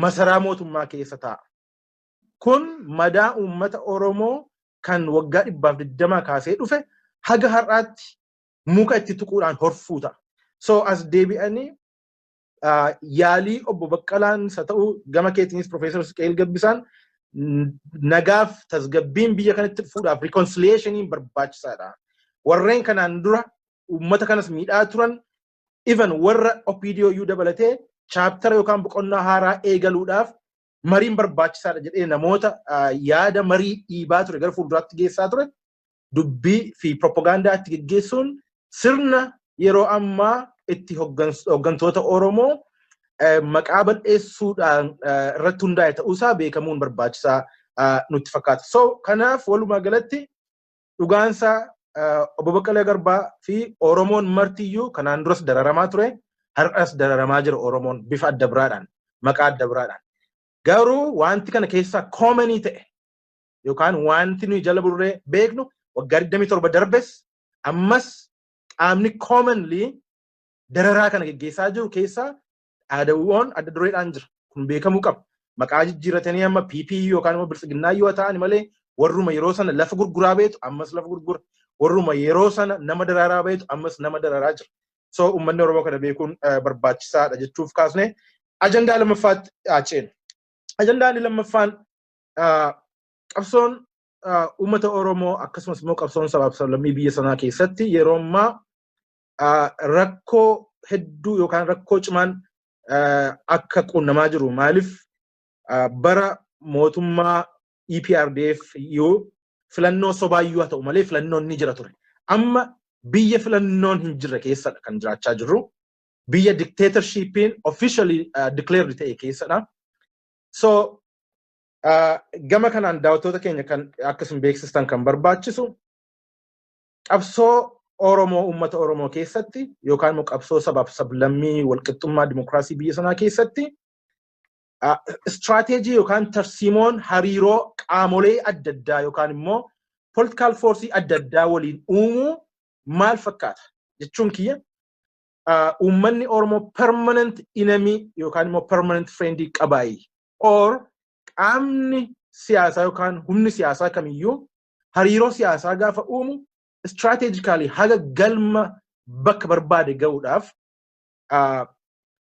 masaraa mootummaa keessa taa'a. Kun madaa uummata Oromoo kan waggaa dhibbaaf digdamaa kaasee dhufe haga har'aatti muka itti tuquudhaan horfuu ta'a. So as deebi'anii yaalii obbo Baqqalaan isa ta'u gama keetiinis Profeesar Isqeel Gabbisaan nagaaf tasgabbiin biyya kanatti dhufuudhaaf rikoonsiliyeeshiniin barbaachisaadha. Warreen kanaan dura uummata kanas miidhaa turan even warra OPDO iyyuu dabalatee chaaptara yookaan boqonnaa haaraa eegaluudhaaf mariin barbaachisaadha jedhee namoota yaada marii dhiibaa ture gara fuulduraatti geessaa ture dubbii fi propagaandaa itti geggeessuun sirna yeroo ammaa itti hoggantoota Oromoo maqaa bal'eessuudhaan irratti hundaa'e ta'uusaa beekamuun barbaachisaa nutti fakkaata. So kanaaf walumaa galatti dhugaansaa obbo Baqqalee Garbaa fi Oromoon martiyyuu kanaan duras dararamaa ture har'as dararamaa jira Oromoon bifa adda biraadhaan maqaa adda biraadhaan. Garuu wanti kana keessaa koomanii ta'e yookaan wanti nuyi jala burree beeknu waggaa 27 darbes ammas qaamni commonly dararaa kana geggeessaa jiru keessaa dhaadawwan adda dureedhaan jira. Kun beekamuu qaba. Maqaa jijjiirratanii amma PP yookaan immoo biltsiginnaa yoo ta'an malee warruma yeroo sana lafa gurguraa beetu ammas lafa gurgura. Warruma yeroo sana nama daraaraa beetu ammas nama daraaraa jira. So uummanni Oromoo kana beekuun eh, barbaachisaadha jechuuf kaasne ajandaa lammaffaatti haa ceenu. Ajandaan lammaffaan qabsoon uummata Oromoo akkasumas immoo qabsoon sabaaf sablammii biyya sanaa keessatti yeroo ammaa rakkoo hedduu yookaan rakkoo cimaan akka qunnamaa jiru maaliif bara mootummaa EPRDF yoo filannoo sobaayyuu haa ta'u malee filannoon ni jira ture. Amma biyya filannoon hin jirre keessadha kan jiraachaa jirru. Biyya dictatorshipiin officially declared ta'e keessadha. So uh, gama kanaan daawwattoota keenya kan akkasuma beeksistan kan barbaachisu qabsoo Oromoo uummata Oromoo keessatti yookaan immoo qabsoo sabaaf sablammii walqixxummaa dimokiraasii biyya sanaa keessatti uh, istiraateejii yookaan tarsiimoon hariiroo qaamolee adda addaa yookaan immoo politikaal foorsii adda addaa waliin uumuu maal fakkaata jechuun kiyya uummanni Oromoo permanent enemy yookaan immoo permanent friend qabaayi. Or qaamni siyaasaa yookaan humni siyaasaa kamiyyuu hariiroo siyaasaa gaafa uumu strategically haga galma bakka barbaade ga'uudhaaf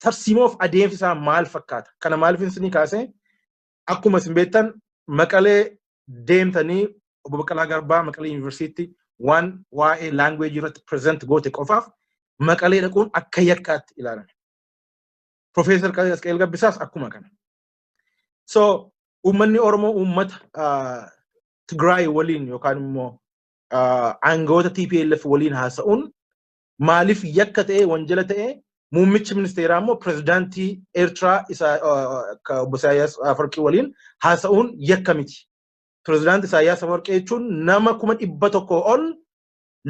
tarsiimoof adeemsi isaa maal fakkaata? Kana maaliif isinii kaasee akkuma isin beektan maqalee deemtanii obbo Baqqalaa Garbaa maqalee yuunivarsiitti waan waa'ee laanguweejii irratti pireezent goote qofaaf maqalee dhaquun akka yakkaatti ilaalame. Profeesar Qasqeel Gabbisaas akkuma kana. So uummanni Oromoo uummata Tigraay waliin yookaan immoo aangawoota TPLF waliin haasa'uun maaliif yakka ta'ee wanjala ta'ee muummichi ministeeraa immoo pirezidaantii Eertiraa isa obbo Isaayyaas Afawarqii waliin haasa'uun yakka miti. Pirezidaantii Isaayyaas Afawarqii jechuun nama kuma dhibba tokko ol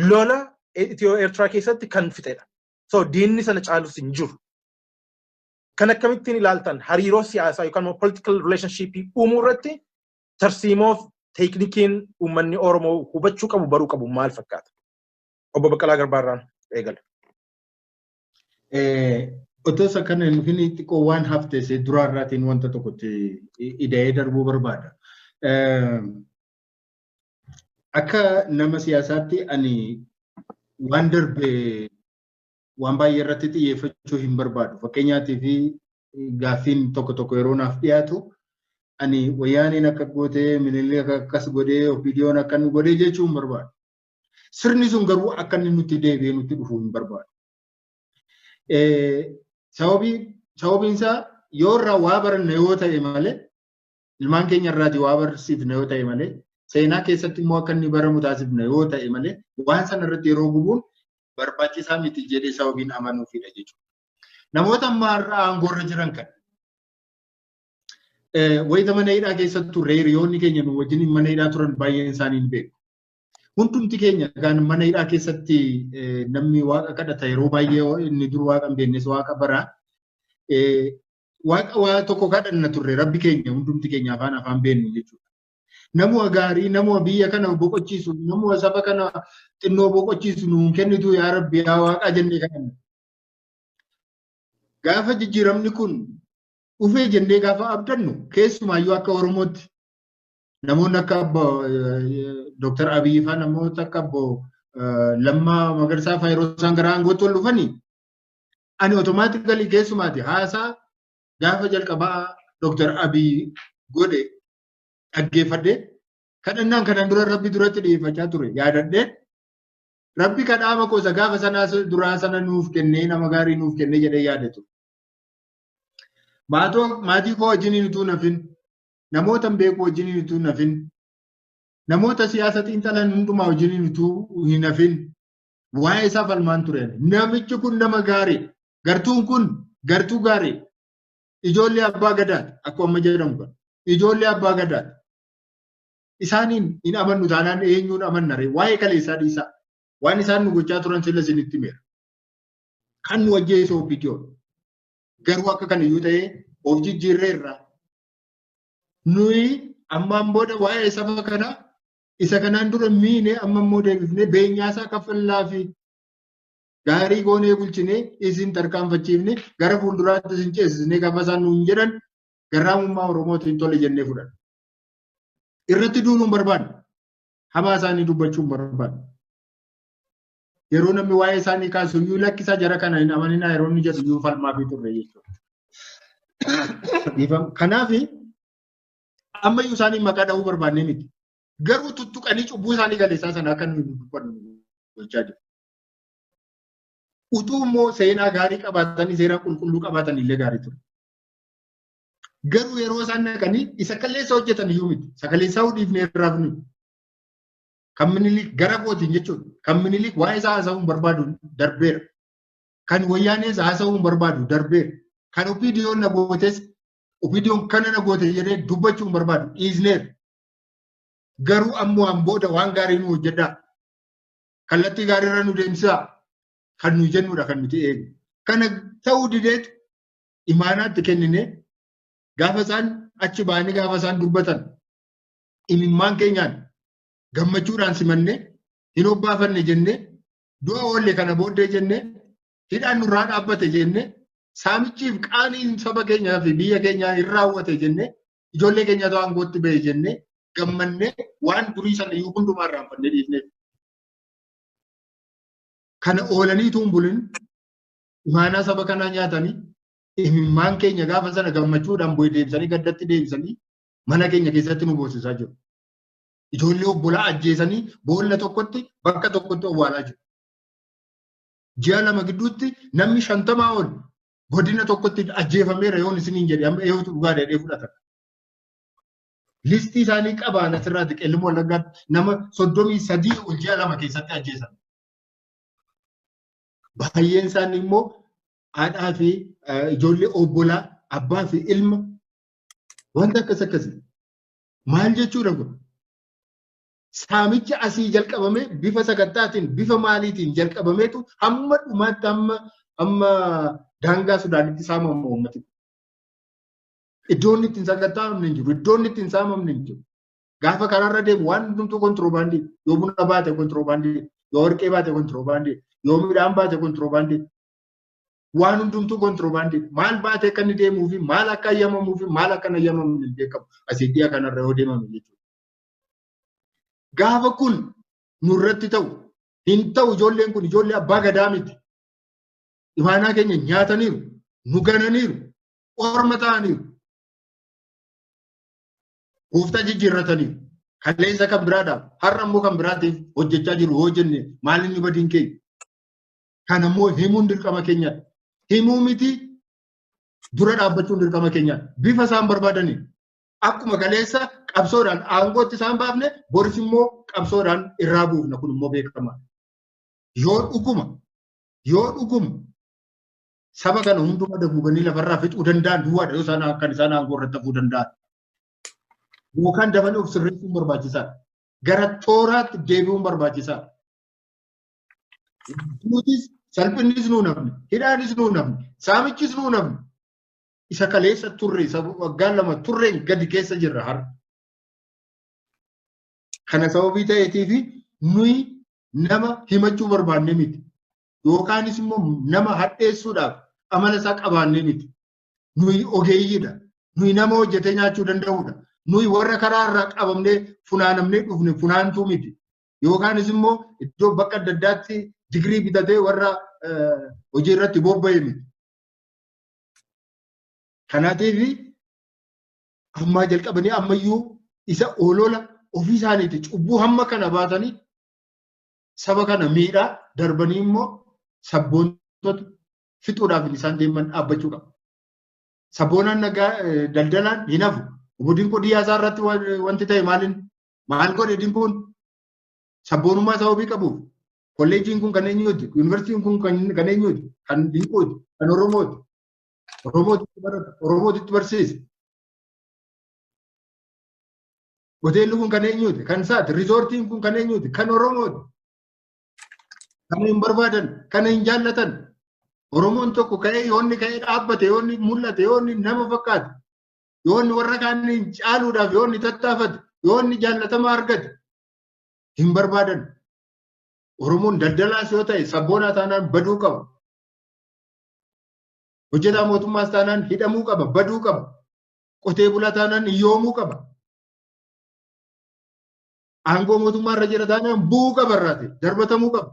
lola Itiyoo Eertiraa keessatti kan fixedha. So diinni sana caalus hin jiru. Kan akkamittiin ilaaltan hariiroo siyaasaa yookaan immoo political relationship uumuu irratti tarsiimoof teeknikiin uummanni Oromoo hubachuu qabu baruu qabu maal fakkaata? Obbo Baqqalaa Garbaa irraan eegala. Otoo isa kana hin dhufin xiqqoo waan hafte isee duraa irraatiin wanta tokkotti ida'ee darbuu barbaada. Akka nama siyaasaatti ani waan darbe waan baay'ee irratti xiyyeeffachuu hin barbaadu. Fakkeenyaatii fi gaaffiin tokko tokko yeroo naaf dhiyaatu ani wayyaaniin akka gootee minillee akkas godhee opiidiyoon akka nu godhee jechuu hin barbaadu. Sirni sun garuu akka inni nutti deebi'ee nutti dhufuu hin barbaadu. Sababiin isaa yoo irraa waa baranne yoo ta'e malee ilmaan keenya irraati waa barsiifne yoo ta'e malee seenaa keessatti immoo akka inni baramu taasifne yoo ta'e malee waan sana irratti yeroo gubuun barbaachisaa miti jedhee sababiin amanuufidha jechuudha. Namoota amma har'a aangoorra jiran kan wayita mana hidhaa keessattu reeriyoonni keenya nu wajjin mana hidhaa turan baay'een isaanii hin beeku. Hundumti keenya kan mana hidhaa keessatti namni waaqa kadhata yeroo baay'ee inni dur waaqa hin beeknes waaqa bara. Waaqa waa tokko kadhanna turre rabbi keenya hundumti keenya afaan afaan beennu jechuudha. Namuma gaarii namuma biyya kana boqochiisu namuma saba kana xinnoo boqochiisu nuun kennitu yaa rabbi yaa waaqaa jennee kadhanna. Gaafa jijjiiramni kun dhufee jennee gaafa abdannu keessumaayyuu akka Oromootti namoonni akka abbo Dooktar Abiyyi fa'aa namoota akka abbo Lammaa Magarsaa fa'aa yeroo isaan gara aangootti ol dhufanii ani otomaatikali keessumaati haasaa gaafa jalqabaa Dooktar Abiyyi godhe dhaggeeffadhee kadhannaan kanaan dura rabbi duratti dhiyeeffachaa ture yaadadhee rabbi kadhaama qoosa gaafa sanaa duraa sana nuuf kennee nama gaarii nuuf kennee jedhee yaadatu. Maatii koo wajjin utuu nafin namootan beeku wajjiniin utuu hin hafin, namoota siyaasa xiinxalan hundumaa wajjiniin utuu hin hafin, waa'ee isaa falmaan ture. Namichi kun nama gaarii, gartuun kun gartuu gaarii, ijoollee abbaa gadaati, akkuma amma jedhamu kana. Ijoollee abbaa gadaati. Isaaniin hin amannu taanaan eenyuun amanna ree? Waa'ee kaleessaa dhiisaa. Waan isaan nu gochaa turan sila isinitti himeera. Kan nu ajjeese OPDO. Garuu akka kana iyyuu ta'ee of jijjiirreerra. nuyi ammaan booda waa'ee saba kanaa isa kanaan dura miine amma immoo deebifnee beenyaasaa kaffallaa fi gaarii goonee bulchinee isin tarkaanfachiifne gara fuulduraatti isin ceesisnee gaafa isaan nuun jedhan garraamummaa Oromootiin tole jennee fudhanna. Irratti duuluun barbaanna. Hamaa isaanii dubbachuun barbaanna. yeroo namni waa'ee isaanii kaasu iyyuu lakkisaa jara kana hin amaninaa yeroo inni jedhu iyyuu falmaa fi turre jechuudha. Kanaaf amma iyyuu isaanii maqaa dhahuu barbaannee miti. Garuu tuttuqanii cubbuu isaanii galeessaa sana akka nuyi dubbannu gochaa jiru. Utuu immoo seenaa gaarii qabaatanii seera qulqulluu qabaatan illee gaarii ture. Garuu yeroo isaan naqanii isa kalleessa hojjetan iyyuu miti. Isa kalleessaa hudhiifnee irraa funu. Kan Minilik gara kootiin jechuudha. Kan Minilik waa'ee isaa haasa'uun barbaadu darbeera. Kan Wayyaanees haasa'uun barbaadu darbeera. Kan Opiidiyoon na gootes Opiidiyoon kana na goote jedhee dubbachuun barbaadu dhiisneera. Garuu ammoo an booda waan gaarii nu hojjedhaa. Kallattii gaariirra nu deemsisaa. Kan nu jennudha kan nuti eegnu. Kana ta'uu dideetu imaanaatti kenninee gaafa isaan achi ba'anii gaafa isaan dubbatan imimmaan keenyaan gammachuudhaan simanne hin hobbaafanne jenne du'a oolle kana booddee jenne hidhaan nurraa dhaabbate jenne saamichiif qaaniin saba keenyaa fi biyya keenyaa hin raawwate jenne ijoollee keenyatu aangootti ba'e jenne gammanne waan durii sana iyyuu hundumaa irraanfannee dhiifneef. Kana oolanii tuun bulin imaanaa saba kanaa nyaatanii imimmaan keenya gaafa sana gammachuudhaan bu'ee deebisanii gaddatti deebisanii mana keenya keessatti nu boosisaa jiru. Ijoollee obbolaa ajjeesanii boolla tokkotti bakka tokkotti owwaalaa jiru. Ji'a lama gidduutti namni shantamaa ol godina tokkotti ajjeefameera yoon isiniin jedhe amma eeyyuutu dhugaa dheedhee fudhatan. Listii isaanii qabaan asirraatti qellimoo wallaggaatti nama soddomii sadii ol ji'a lama keessatti ajjeesan. Baay'een isaanii immoo haadhaa fi ijoollee obbolaa abbaa fi ilma Wanta akkas akkasii. Maal jechuudha kun? Saamichi asii jalqabamee bifa sakattaatiin bifa maaliitiin jalqabameetu hamma dhumaatti hamma amma daangaa Sudaanitti saamamu uummati. Iddoon ittiin sakattaa'amne hin jiru. Iddoon ittiin saamamne hin jiru. Gaafa karaarra deemu waan hundumtuu kontiroobaandii yoo buna baate kontiroobaandii yoo warqee baate kontiroobaandii yoo midhaan baate kontiroobaandii waan hundumtuu kontiroobaandii maal baatee akka inni deemuu fi maal akka ayyamamuu fi maal akka hin ayyamamne hin beekamu asii dhiya kanarra yoo deemame jechuudha. Gaafa kun nurratti ta'u hin ta'u ijoolleen kun ijoollee abbaa gadaa miti. Imaanaa keenya nyaataniiru, nu gananiiru, orma ta'aniiru. Gooftaa jijjiirrataniiru. Kaleessa kan biraadhaaf har'a immoo kan biraatiif hojjechaa jiru hoo jenne maal inni badiin keenya? Kan ammoo himuun dirqama keenyadha. Himuu miti dura dhaabbachuun dirqama keenyadha. Bifa isaan barbaadaniin akkuma kaleessa qabsoodhaan aangootti isaan baafne boris immoo qabsoodhaan irraa buufna kun immoo beekamaadha. Yoo dhuguma yoo dhuguma saba kana hundumaa daguuganii lafarraa fixuu danda'an duwwaadha yoo isaan kan isaan aangoo irratti hafuu danda'an. Yookaan dafanii of sirreessuun barbaachisaadha. Gara tooraatti deebi'uun barbaachisaadha. Duutis salphinnis nuu namni, hidhaanis nuu namni, saamichis nuu namni. Isa kaleessa turre, isa waggaa lama turreen gadi keessa jirra har'a. Kana sababii ta'eetiif nuyi nama himachuu barbaannee miti. Yookaanis immoo nama hadheessuudhaaf amala isaa qabaannee miti. Nuyi ogeeyyiidha. Nuyi nama hojjetee nyaachuu danda'udha. Nuyi warra karaa irraa qabamnee funaanamnee dhufne funaantuu miti. yookaanis immoo iddoo bakka adda addaatti digirii bitatee warra hojii irratti bobba'e miti. Kanaatiif ammaa jalqabanii ammayyuu isa oolola ofii isaaniiti cubbuu hamma kana baatanii saba kana miidhaa darbanii immoo sabboontota fixuudhaaf isaan deeman dhaabbachuu qaba. Sabboonaan nagaa daldalaan hin hafu. Obodiin qodiyyaa isaa irratti wanti ta'e maaliin Maal godhe Dimbuun? Sabboonummaa isaa wabii qabuuf. Kolleejjiin kun kan eenyuuti? Yuunivarsiitiin kun kan eenyuuti? Kan Dinquuti? Kan Oromooti? Oromootitti barata? Oromootitti barsiisa? Hoteelli kun kan eenyuuti? Kan isaati? Riizoortiin kun kan eenyuuti? Kan Oromooti? Kan hin barbaadan? Kan hin jaallatan? Oromoon tokko ka'ee yoonni ka'ee dhaabbate yoonni mul'ate yoonni nama fakkaate yoo inni warra kaaniin caaluudhaaf yoo inni tattaafate yoo inni jaallatama argate hin barbaadan. Oromoon daldalaas yoo ta'e sabboonaa taanaan baduu qaba. Hojjetaa mootummaas taanaan hidhamuu qaba, baduu qaba. Qotee bulaa taanaan hiyyoomuu qaba. Aangoo mootummaa irra jira taanaan bu'uu qaba irraati, darbatamuu qaba.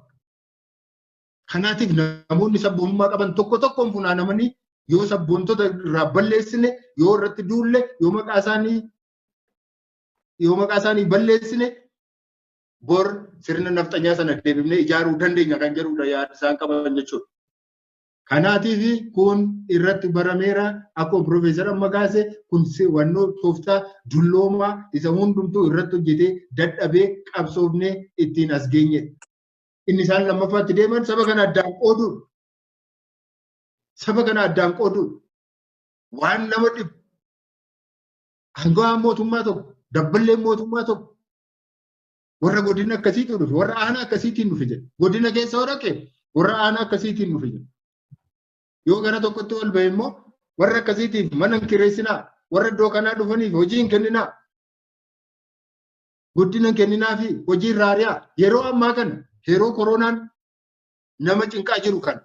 Kanaatiif namoonni sabboonummaa qaban tokko tokkoon funaanamanii yoo sabboontota irraa balleessine yoo irratti duulle yoo maqaa isaanii yoo maqaa isaanii balleessine bor sirna nafxanyaa sana deebifnee ijaaruu dandeenya kan jedhudha yaada isaan qaban jechuudha. Kanaatiif kun irratti barameera akkuma Piroofeesar amma kaase kun wannoo tooftaa dulloomaa isa hundumtuu irratti hojjetee dadhabee qabsoofnee ittiin as geenyedha. inni isaan lammaffaatti deeman saba kana addaan qooduu saba kana addaan qooduu waan nama dhibu aangawaan mootummaa tokko dabballeen mootummaa tokko warra godina akkasiitiin dhufe warra aanaa akkasiitiin dhufe jedhe godina keessa yoo dhaqe warra aanaa akkasiitiin dhufe jedhe yoo gara tokkotti ol ba'e immoo warra akkasiitiif mana hin kireessinaa warra iddoo kanaa dhufaniif hojii hin kenninaa guddina hin kenninaa fi hojii irraa ari'aa. Yeroo ammaa kana yeroo koronaan nama cinqaa jiru kana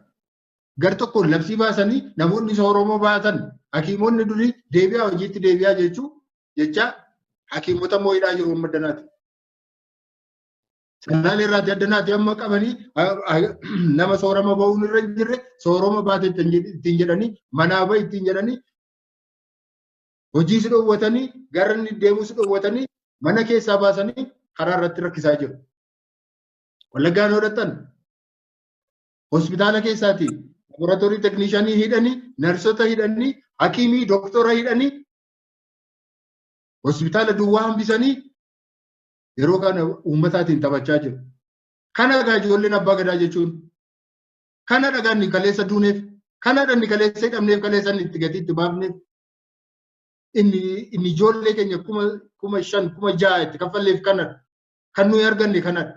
gar tokkoon labsii baasanii namoonni isa Oromoo baatan hakiimonni durii deebi'aa hojiitti deebi'aa jechuu jechaa hakiimota immoo hidhaa jiru amma danaati. Sanaan irraati addanaati amma qabanii nama soorama ba'uun irra hin jirre soorama baate ittiin jedhanii manaa ba'i ittiin jedhanii hojii si dhowwatanii gara inni deemuu si dhowwatanii mana keessaa baasanii karaa irratti rakkisaa jiru. Wallaggaa yoo dhaqxan hospitaala keessaati laboraatoorii tekniishaanii hidhanii narsota hidhanii hakiimii doktora hidhanii hospitaala duwwaa hambisanii yeroo kana uummataatiin taphachaa jiru. Kana egaa ijoolleen abbaa gadaa jechuun kana dhagaan kaleessa duuneef kana dhanni kaleessa hidhamneef kaleessa itti gatii itti baafneef inni inni ijoollee keenya kuma kuma shan kuma ja'a itti kaffalleef kanadha. Kan nuyi arganne kanadha.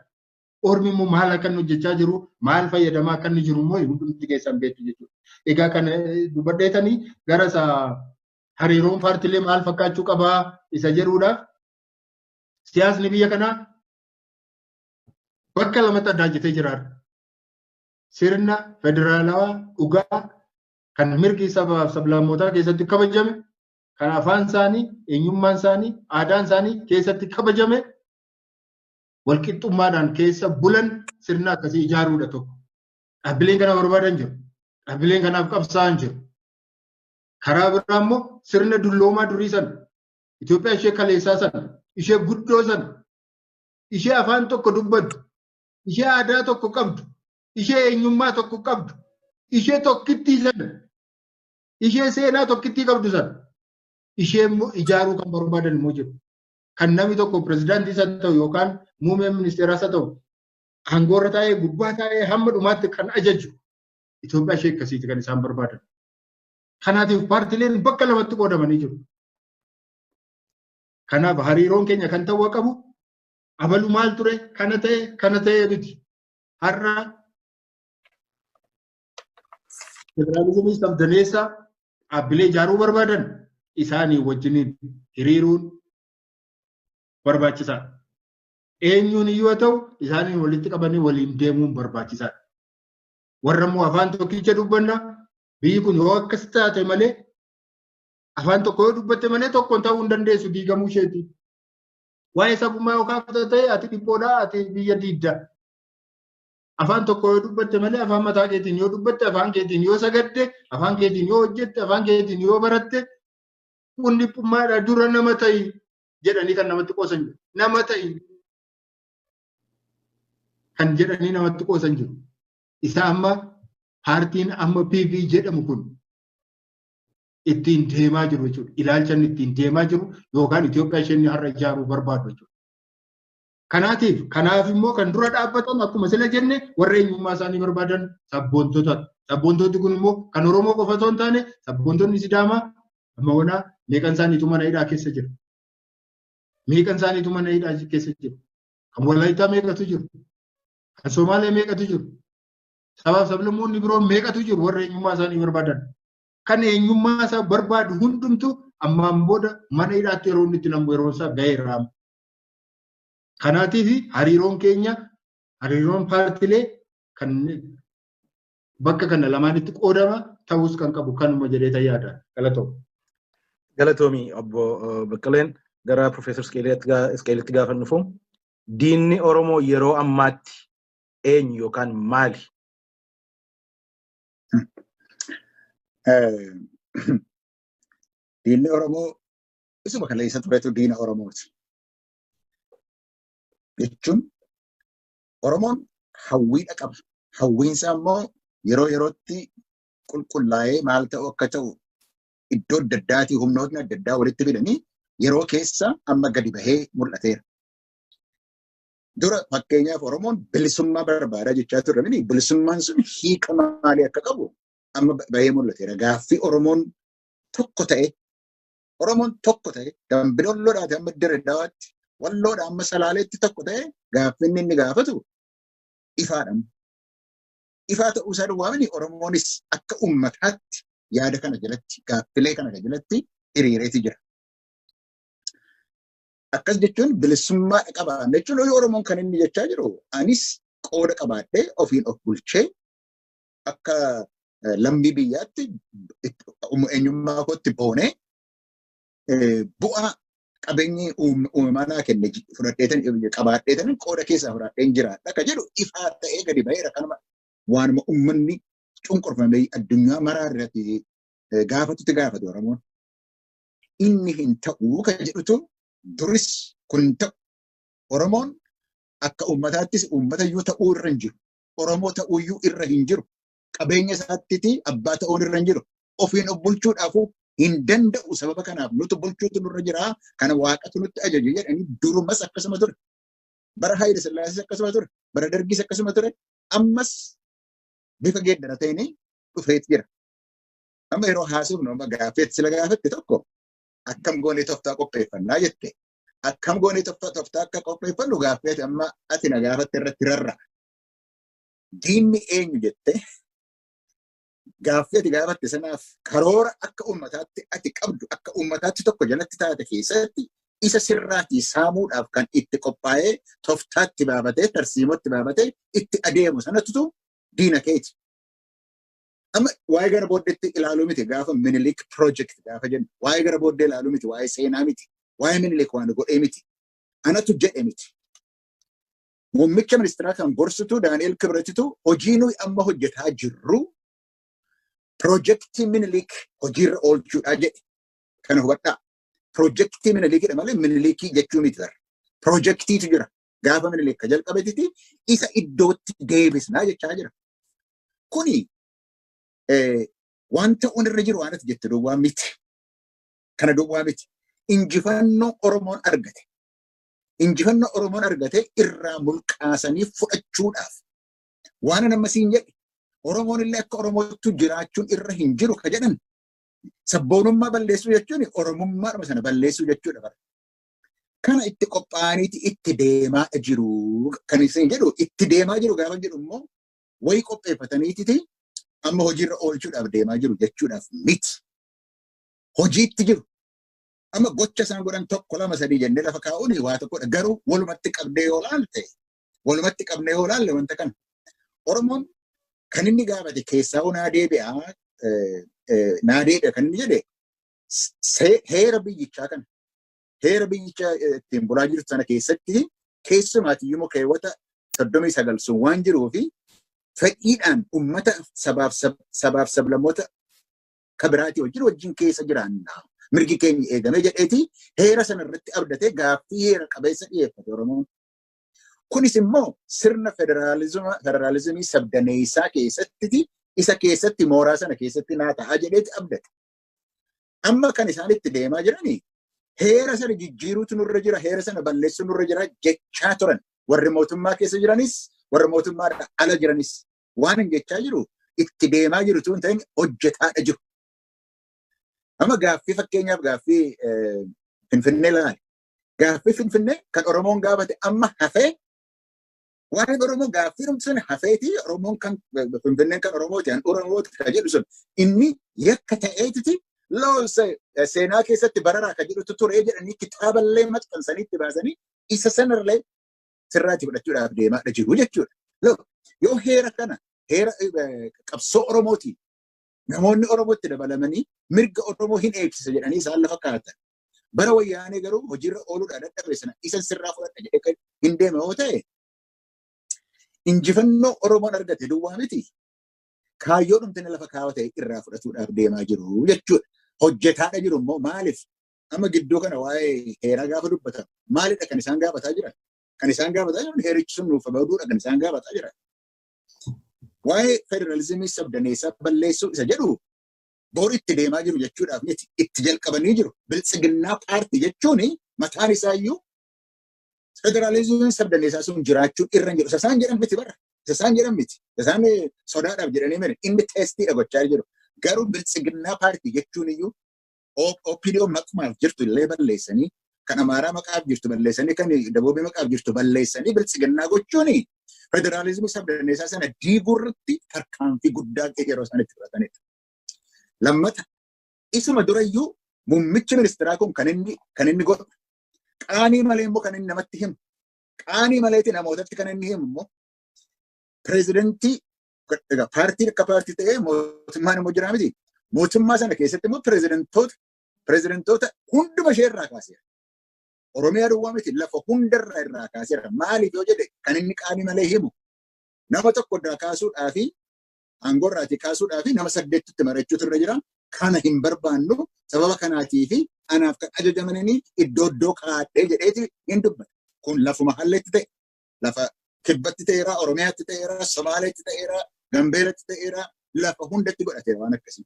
Ormi immoo maal akka inni hojjechaa jiru maal fayyadamaa akka inni jiru immoo hundumti keessan beektu jechuudha. Egaa kana dubbadheetanii gara isa hariiroon paartilee maal fakkaachuu qabaa isa jedhuudhaaf siyaasni biyya kanaa bakka lamatti addaa jetee jiraata. Sirna federaalawaa dhugaa kan mirgi sabaaf sablammootaa keessatti kabajame, kan afaan isaanii, eenyummaan isaanii, aadaan isaanii keessatti kabajame walqixxummaadhaan keessa bulan sirna akkasii ijaaruudha tokko. Dhaabbileen kana barbaadan jiru. Dhaabbileen kanaaf qabsaa'an jiru. Karaa biraa immoo sirna dulloomaa durii sana Itoophiyaa ishee kaleessaa sana ishee guddoo sana ishee afaan tokko dubbattu ishee aadaa tokko qabdu ishee eenyummaa tokko qabdu ishee tokkittii sana ishee seenaa tokkittii qabdu sana ishee immoo ijaaruu kan barbaadan immoo jiru. Kan namni tokko pirezidaantii isa ta'u yookaan muummee ministeeraa isa ta'u aangoorra taa'ee gubbaa taa'ee hamma dhumaatti kan ajaju Itoophiyaa ishee akkasiiti kan isaan barbaadan. Kanaatiif paartileen bakka lamatti qoodamanii jiru. Kanaaf hariiroon keenya kan ta'uu qabu abalu maal ture kana ta'e kana ta'e miti. har'a federaalizimii sabdaneessa dhaabbilee ijaaruu barbaadan isaanii wajjiniin hiriiruun barbaachisaadha. Eenyuun yoo ta'u isaaniin walitti qabanii waliin deemuun barbaachisaadha. Warra immoo afaan tokkicha dubbanna biyyi kun yoo akkas taate malee afaan tokko yoo dubbatte malee tokkoon ta'uu hin dandeessu diigamuu isheeti. Waa'ee sabummaa yoo kaafta ta'e ati dhiphoodha ati biyya diidda. Afaan tokko yoo dubbatte malee afaan mataa keetiin yoo dubbatte afaan keetiin yoo sagadde afaan keetiin yoo hojjette afaan keetiin yoo baratte kun dhiphummaadha dura nama ta'i jedhanii kan namatti qoosan jiru. Nama ta'i kan jedhanii namatti qoosan jiru. Isa amma paartiin amma PV jedhamu kun ittiin deemaa jiru jechuudha. Ilaalcha inni ittiin deemaa jiru yookaan Itoophiyaa ishee inni har'a ijaaruu barbaadu jechuudha. Kanaatiif kanaaf immoo kan dura dhaabbatan akkuma sila jenne warra eenyummaa isaanii barbaadan sabboontota. Sabboontoti kun immoo kan Oromoo qofa osoo hin taane sabboontonni Sidaamaa amma wanaa meeqan isaaniitu mana hidhaa keessa jiru. Meeqan isaaniitu mana hidhaa keessa jiru. Kan Walaayittaa meeqatu jiru. Kan Somaalee meeqatu jiru. Sabaaf sablammoonni biroon meeqatu jiru warra eenyummaa isaanii barbaadan. kan eenyummaa isaa barbaadu hundumtu ammaan booda mana hidhaatti yeroo inni itti namu yeroo isaa ga'eera. Kanaatiif hariiroon keenya hariiroon paartilee kan bakka kana lamaanitti qoodama ta'us kan qabu kanuma jedhee yaada. Galatoomi. Galatoomi obbo Baqqaleen gara Profeesar Isqeelitti gaafa dhufu diinni Oromoo yeroo ammaatti eenyu yookaan maali? Diinni Oromoo isuma kana isa turetu diina Oromooti. Jechuun Oromoon hawwiidha qaba. Hawwiinsaa immoo yeroo yerootti qulqullaa'ee maal ta'u akka ta'u iddoo adda addaatii humnootni adda addaa walitti fidanii yeroo keessa amma gadi bahee mul'ateera. Dura fakkeenyaaf Oromoon bilisummaa barbaada jechaa turre mini bilisummaan sun hiika maalii akka qabu amma bahee mul'ateera. Gaaffii Oromoon tokko ta'e Oromoon tokko ta'e dambidollodhaati amma Dirre Dawaatti walloodha amma salaaleetti tokko ta'e gaaffinni inni gaafatu ifaadhaan. Ifaa ta'uu isaa duwwaa mini Oromoonis akka uummataatti yaada kana jalatti gaaffilee kana jalatti hiriireeti jira. Akkas jechuun bilisummaa qabaanna jechuun horii Oromoon kan inni jechaa jiru anis qooda qabaadhee ofiin of bulchee akka lammii biyyaatti eenyummaa kootti boonee bu'aa qabeenyi uumamaa naa kenne fudhadheetan qabaadheetan qooda keessaa fudhadheen jiraadha akka jedhu ifaa ta'ee gadi ba'eera kanuma waanuma uummanni cunqurfamee addunyaa maraa irratti gaafatutti gaafate Oromoon. inni hin ta'uu kan jedhutu duris kun hin ta'u. Oromoon akka uummataattis uummata iyyuu ta'uu irra hin jiru. Oromoo ta'uu iyyuu irra hin jiru. Qabeenya isaattiiti abbaa ta'uun irra hin jiru. Ofiin of bulchuudhaafuu hin danda'u sababa kanaaf nutu bulchuutu nurra jira kana waaqatu nutti ajaje jedhanii durumas akkasuma ture. Bara Haayile Sillaasees akkasuma ture. Bara Dargiis akkasuma ture. Ammas bifa geeddarateenii dhufeet jira. Amma yeroo haasofnu amma gaaffeetti sila gaafatte tokko akkam goonee toftaa qopheeffannaa jette. Akkam goonee toftaa toftaa akka qopheeffannu gaaffeeti amma ati na gaafatte irratti rarra. Diinni eenyu jette gaaffeeti gaafatte sanaaf karoora akka uummataatti ati qabdu akka uummataatti tokko jalatti taate keessatti isa sirraatii saamuudhaaf kan itti qophaa'ee toftaatti baabatee tarsiimootti baabatee itti adeemu sanattu diina keeti. Amma waa'ee gara booddeetti ilaaluu miti gaafa minilik project gaafa jennu waa'ee gara booddee ilaaluu miti waa'ee seenaa miti waa'ee minilik waan godhee miti anatu jedhe miti. Muummicha ministeeraa kan gorsitu Daani'el Kibratitu hojii nuyi amma hojjetaa jirru pirojektii minilik hojiirra oolchuudhaa jedhe kana hubadhaa. Pirojektii minilikidha malee minilikii jechuu miti bara. Pirojektiitu jira. gaafa minilik ka jalqabetiti isa iddootti deebisnaa jechaa jira. Kuni waan ta'uun irra jiru waan ati jette duwwaa miti. Kana duwwaa miti. Injifannoo Oromoon argate. Injifannoo Oromoon argate irraa mulqaasanii fudhachuudhaaf. Waan nama siin jedhe Oromoon illee akka Oromootu jiraachuun irra hin jiru ka jedhan sabboonummaa balleessuu jechuun Oromummaadhuma sana balleessuu jechuudha bara. Kana itti qophaa'aniiti itti deemaa jiru. Kan isin jedhu itti deemaa jiru gaafa jedhu immoo wayii qopheeffataniititi amma hojiirra oolchuudhaaf deemaa jiru jechuudhaaf miti. Hojiitti jiru. Amma gocha isaan godhan tokko lama sadii jennee lafa kaa'uun waa tokkodha. Garuu walumatti qabdee yoo laalte walumatti qabnee yoo laalle wanta kana. Oromoon kan inni gaafate keessaa hoo naa deebi'a naa deebi'a kan inni jedhe se- heera biyyichaa kana heera biyyicha eh, ittiin bulaa jirtu sana keessatti keessumaati immoo keewwata soddomii sagal sun waan jiruu fi fedhiidhaan ummata sabaaf sab- sabaaf sablammoota kabiraatii wajjin wajjin keessa jiraanna. Mirgi keenya eegamee jedheeti heera sana irratti abdatee gaaffii heera qabeessa dhiyeeffate Oromoon. Kunis immoo sirna federaalizima federaalizimii sabdaneessaa keessatti isa keessatti mooraa sana keessatti naa ta'a jedheeti abdate. Amma kan isaan itti deemaa jirani heera sana jijjiiruutu nurra jira, heera sana balleessuu nurra jira jechaa turan. Warri mootummaa keessa jiranis, warri mootummaa ala jiranis waan hin jechaa jiru itti deemaa jiru tun ta'in hojjetaadha jiru. Amma gaaffii fakkeenyaaf gaaffii Finfinnee laali. Gaaffii Finfinnee kan Oromoon gaafate amma hafee Waa'een Oromoo gaaffiidhumti sun hafeeti Oromoon kan Finfinneen kan Oromooti an Oromooti kan jedhu sun inni yakka ta'eetiti loonsa seenaa keessatti bararaa kan jedhutu turee jedhanii kitaaballee maxxansanii itti baasanii isa sanarlee sirraatti fudhachuudhaaf deemaadha jiru jechuudha. Look, yoo heera kana heera eh, qabsoo Oromootiin namoonni Oromootti dabalamanii mirga Oromoo hin eegsisa jedhanii isaan lafa kaa'atan Bara wayyaanee garuu hojiirra ooluudhaan dadhabe sana isa sirraa fudhadha jedhee kan hin deeme yoo ta'e injifannoo Oromoon argate duwwaa miti kaayyoo dhumtanii lafa kaawaa ta'e irraa fudhatuudhaaf deemaa jiru jechuudha. Hojjetaadha jiru immoo maaliif amma gidduu kana waa'ee heeraa gaafa dubbatan maalidha kan isaan gaafataa jiran? Kan isaan gaafataa jiran heerichi sun nuuf baduudha kan isaan gaafataa jiran. Waa'ee federaalizimii sabdaneessaa balleessuu isa jedhu bor itti deemaa jiru jechuudhaaf miti itti jalqabanii jiru biltsiginnaa paartii jechuun mataan isaa iyyuu federaalizimiin sabdaneessaa sun jiraachuun irra jiru isaan jedhan miti bara isaan jedhan miti isaan sodaadhaaf jedhanii mene inni teestiidha gochaa jiru garuu biltsiginnaa paartii jechuun iyyuu OPDO maqumaaf jirtu illee balleessanii kan Amaaraa maqaaf jirtu balleessanii kan Daboobii maqaaf jirtu balleessanii biltsiginnaa gochuun federaalizimii sabdaneessaa sana diiguu irratti tarkaanfii guddaa yeroo isaan itti fudhatanidha. Lammata isuma durayyuu muummichi ministeeraa kun kan inni kan inni godhu qaanii malee immoo kan inni namatti himu qaanii maleeti namootatti kan inni himu immoo pireezidantii paartiin akka paartii ta'ee mootummaan immoo jira miti mootummaa sana keessatti immoo pireezidantoota pirezidantoota hunduma ishee irraa kaaseera. Oromiyaa duwwaa miti lafa hundarraa irraa kaaseera. Maaliif yoo jedhe kan inni qaanii malee himu nama tokko irraa kaasuudhaa fi aangoo irraatii kaasuudhaa fi nama saddeettitti marachuutu irra jira. Kana hin barbaannu sababa kanaatii fi anaaf kan ajajamanii iddoo iddoo kaadhee jedheeti hin dubbata. Kun lafuma halleetti ta'e lafa kibbatti ta'eera, Oromiyaatti ta'eera, Somaaleetti ta'eera, Gambeelatti ta'eera, lafa hundatti godhateera waan akkasii.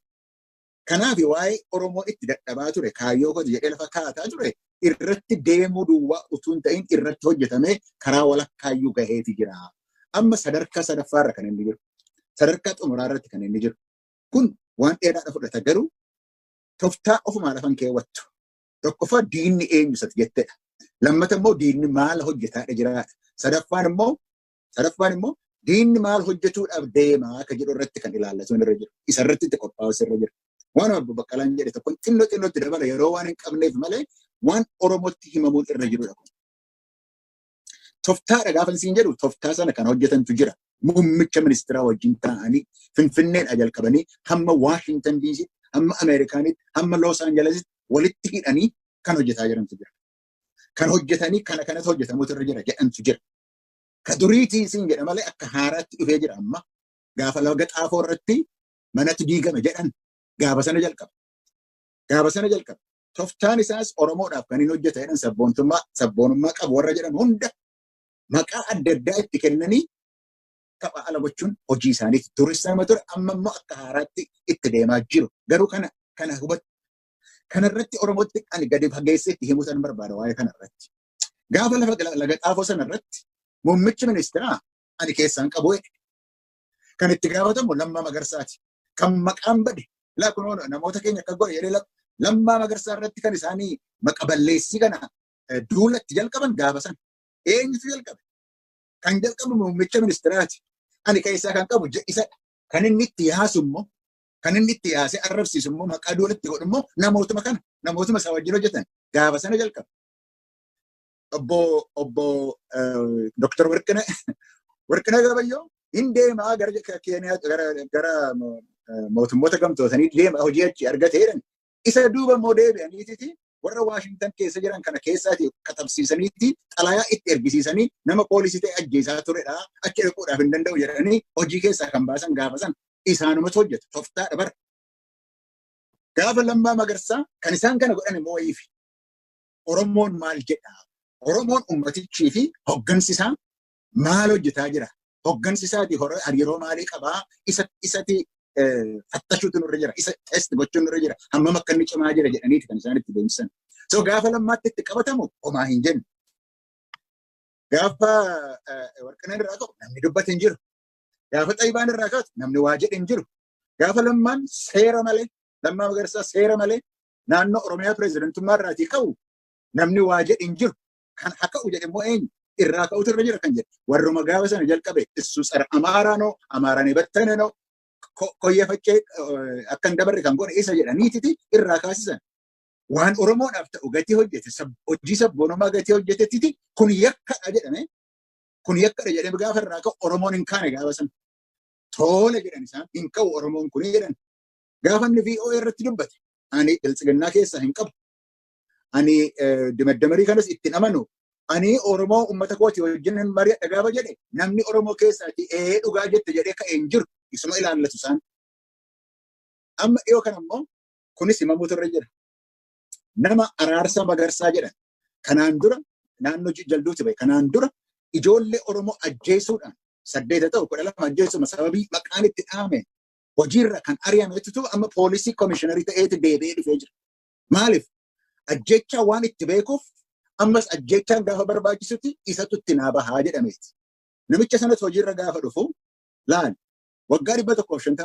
Kanaafi waa'ee Oromoo itti dadhabaa ture, kaayyoo kooti jedhee lafa kaataa ture irratti deemuu duwwaa utuu hin ta'in irratti hojjetamee karaa walakkaayyuu gaheeti jira. Amma sadarkaa sadaffaa irra kan inni jiru. Sadarkaa xumuraa irratti kan inni jiru. Kun waan dheeraadha fudhata garuu toftaa ofumaa lafan keewwattu. Tokkoffaa diinni eenyu isati jettedha. Lammata immoo diinni maala hojjetaadha jiraata. Sadaffaan immoo Sadaffaan immoo diinni maal hojjechuudhaaf deemaa akka jedhu irratti kan ilaallatu irra jira. Isa irratti itti qophaa'us irra jira. Waan obbo Baqqalaan jedhe tokko xinnoo xinnootti dabala yeroo waan hin qabneef malee waan Oromootti himamuun irra jirudha kun. Toftaadha gaafa isiin jedhu toftaa sana kan hojjetantu jira. Muummicha ministeeraa wajjin taa'anii Finfinneedha jalqabanii hamma Waashintan Diisii, hamma Ameerikaanitti, hamma Loos Aanjalesitti walitti hidhanii kan hojjetaa jirantu jira. Kan hojjetanii kana kanatu hojjetamuutu irra jira jedhantu jira. Ka duriitii siin jedha malee akka haaraatti dhufee jira amma. Gaafa laga xaafoo irratti manatu diigame jedhan gaafa sana jalqaba. Gaafa sana jalqaba. Toftaan isaas Oromoodhaaf kan hin hojjeta jedhan sabboontummaa sabboonummaa qabu warra jedhan hunda maqaa adda addaa itti kennanii tapha ala gochuun hojii isaaniiti. Duris nama ture amma immoo akka haaraatti itti deemaa jiru. Garuu kana kana hubatu. Kanarratti Oromootti ani gadi fageessee itti himuu san barbaada waa'ee kanarratti. Gaafa lafa gala- laga xaafoo sana irratti muummichi ministeeraa ani keessaan qabu jedhe. Kan itti gaafatamu Lammaa Magarsaati. Kan maqaan bade laa kunoo namoota keenya akka godhe jedhee lak- Lammaa Magarsaa irratti kan isaanii maqa balleessii kana eh, duula itti jalqaban gaafa sana. Eenyutu jalqabe? Kan jalqabu muummicha ministeeraati. Ani keessaa kan qabu je- isadha. Kan inni itti yaasu immoo kan inni itti yaasee arrabsiisu immoo maqaa duula itti godhu immoo namootuma kana namootuma isaa wajjin hojjetan gaafa sana jalqabe. obbo obbo Dr. Warqina Warqina Gabayyoo hin deemaa gara Keeniyaa gara gara mootummoota gamtootanii deema hojii achi argatee jedhan isa duuba immoo deebi'aniiti warra Waashingtan keessa jiran kana keessaati katabsiisaniiti xalayaa itti ergisiisanii nama poolisii ta'e ajjeesaa turedha achi dhaquudhaaf hin danda'u jedhanii hojii keessaa kan baasan gaafa san isaanumatu hojjetu toftaadha bara. Gaafa lammaa magarsaa kan isaan kana godhan immoo wayiifi. Oromoon maal jedha? Oromoon ummatichii fi hoggansi isaa maal hojjetaa jira? Hoggansi isaati hariiroo maalii qabaa? Isa isati fattashuutu nurra jira. Isa test gochuun nurra jira. Hammam akka inni cimaa jira jedhaniiti kan isaan itti deemsisan. So gaafa lammaatti itti qabatamu homaa hin jennu. Gaafa warqinaan irraa ka'u namni dubbate hin jiru. Gaafa xayibaan irraa kaatu namni waa jedhe hin jiru. Gaafa lammaan seera malee lammaa magarsaa seera malee naannoo Oromiyaa pireezidantummaa irraatii ka'u namni waa jedhe hin jiru. Kan haa ka'u jedhe immoo eenyu? Irraa ka'utu irra jira kan jedhe. Warruma gaafa sana jalqabe issu tsara Amaaraanoo, Amaaraan ebattanenoo, koyyee faccee akka hin dabarre kan godhe isa jedhaniititi irraa kaasisan. Waan Oromoodhaaf ta'u gatii hojjete, hojii sabboonummaa gatii hojjetettiti kun yakkadha jedhame. Kun yakkadha jedhame gaafa irraa ka'u Oromoon hin kaane gaafa sana. Toole jedhan isaan hin ka'u Oromoon kun jedhan. Gaafa inni VOA irratti dubbate ani biltsiginnaa keessaa hin qabu. Ani dimaddamarii kanas ittiin amanu ani Oromoo uummata kooti wajjin hin mari'adha gaafa jedhe namni Oromoo keessaati ee dhugaa jette jedhee ka'ee hin jiru isuma ilaallatu isaan. Amma dhiyoo kana immoo kunis himamuutu irra jira. Nama araarsaa magarsaa jedhan kanaan dura naannoo jalduuti bahe kanaan dura ijoollee Oromoo ajjeesuudhaan saddeeta ta'u kudha lama ajjeesuma sababii maqaan itti dhaame hojiirra kan ari'ametu ta'u amma poolisii komishiinarii ta'eeti deebi'ee dhufee jira. Maaliif? Ajjechaa waan itti beekuuf ammas ajjechaan gaafa barbaachisutti isatu itti naa bahaa jedhameeti. Namicha sanas hojiirra gaafa dhufu laal waggaa dhibba tokkoof shantama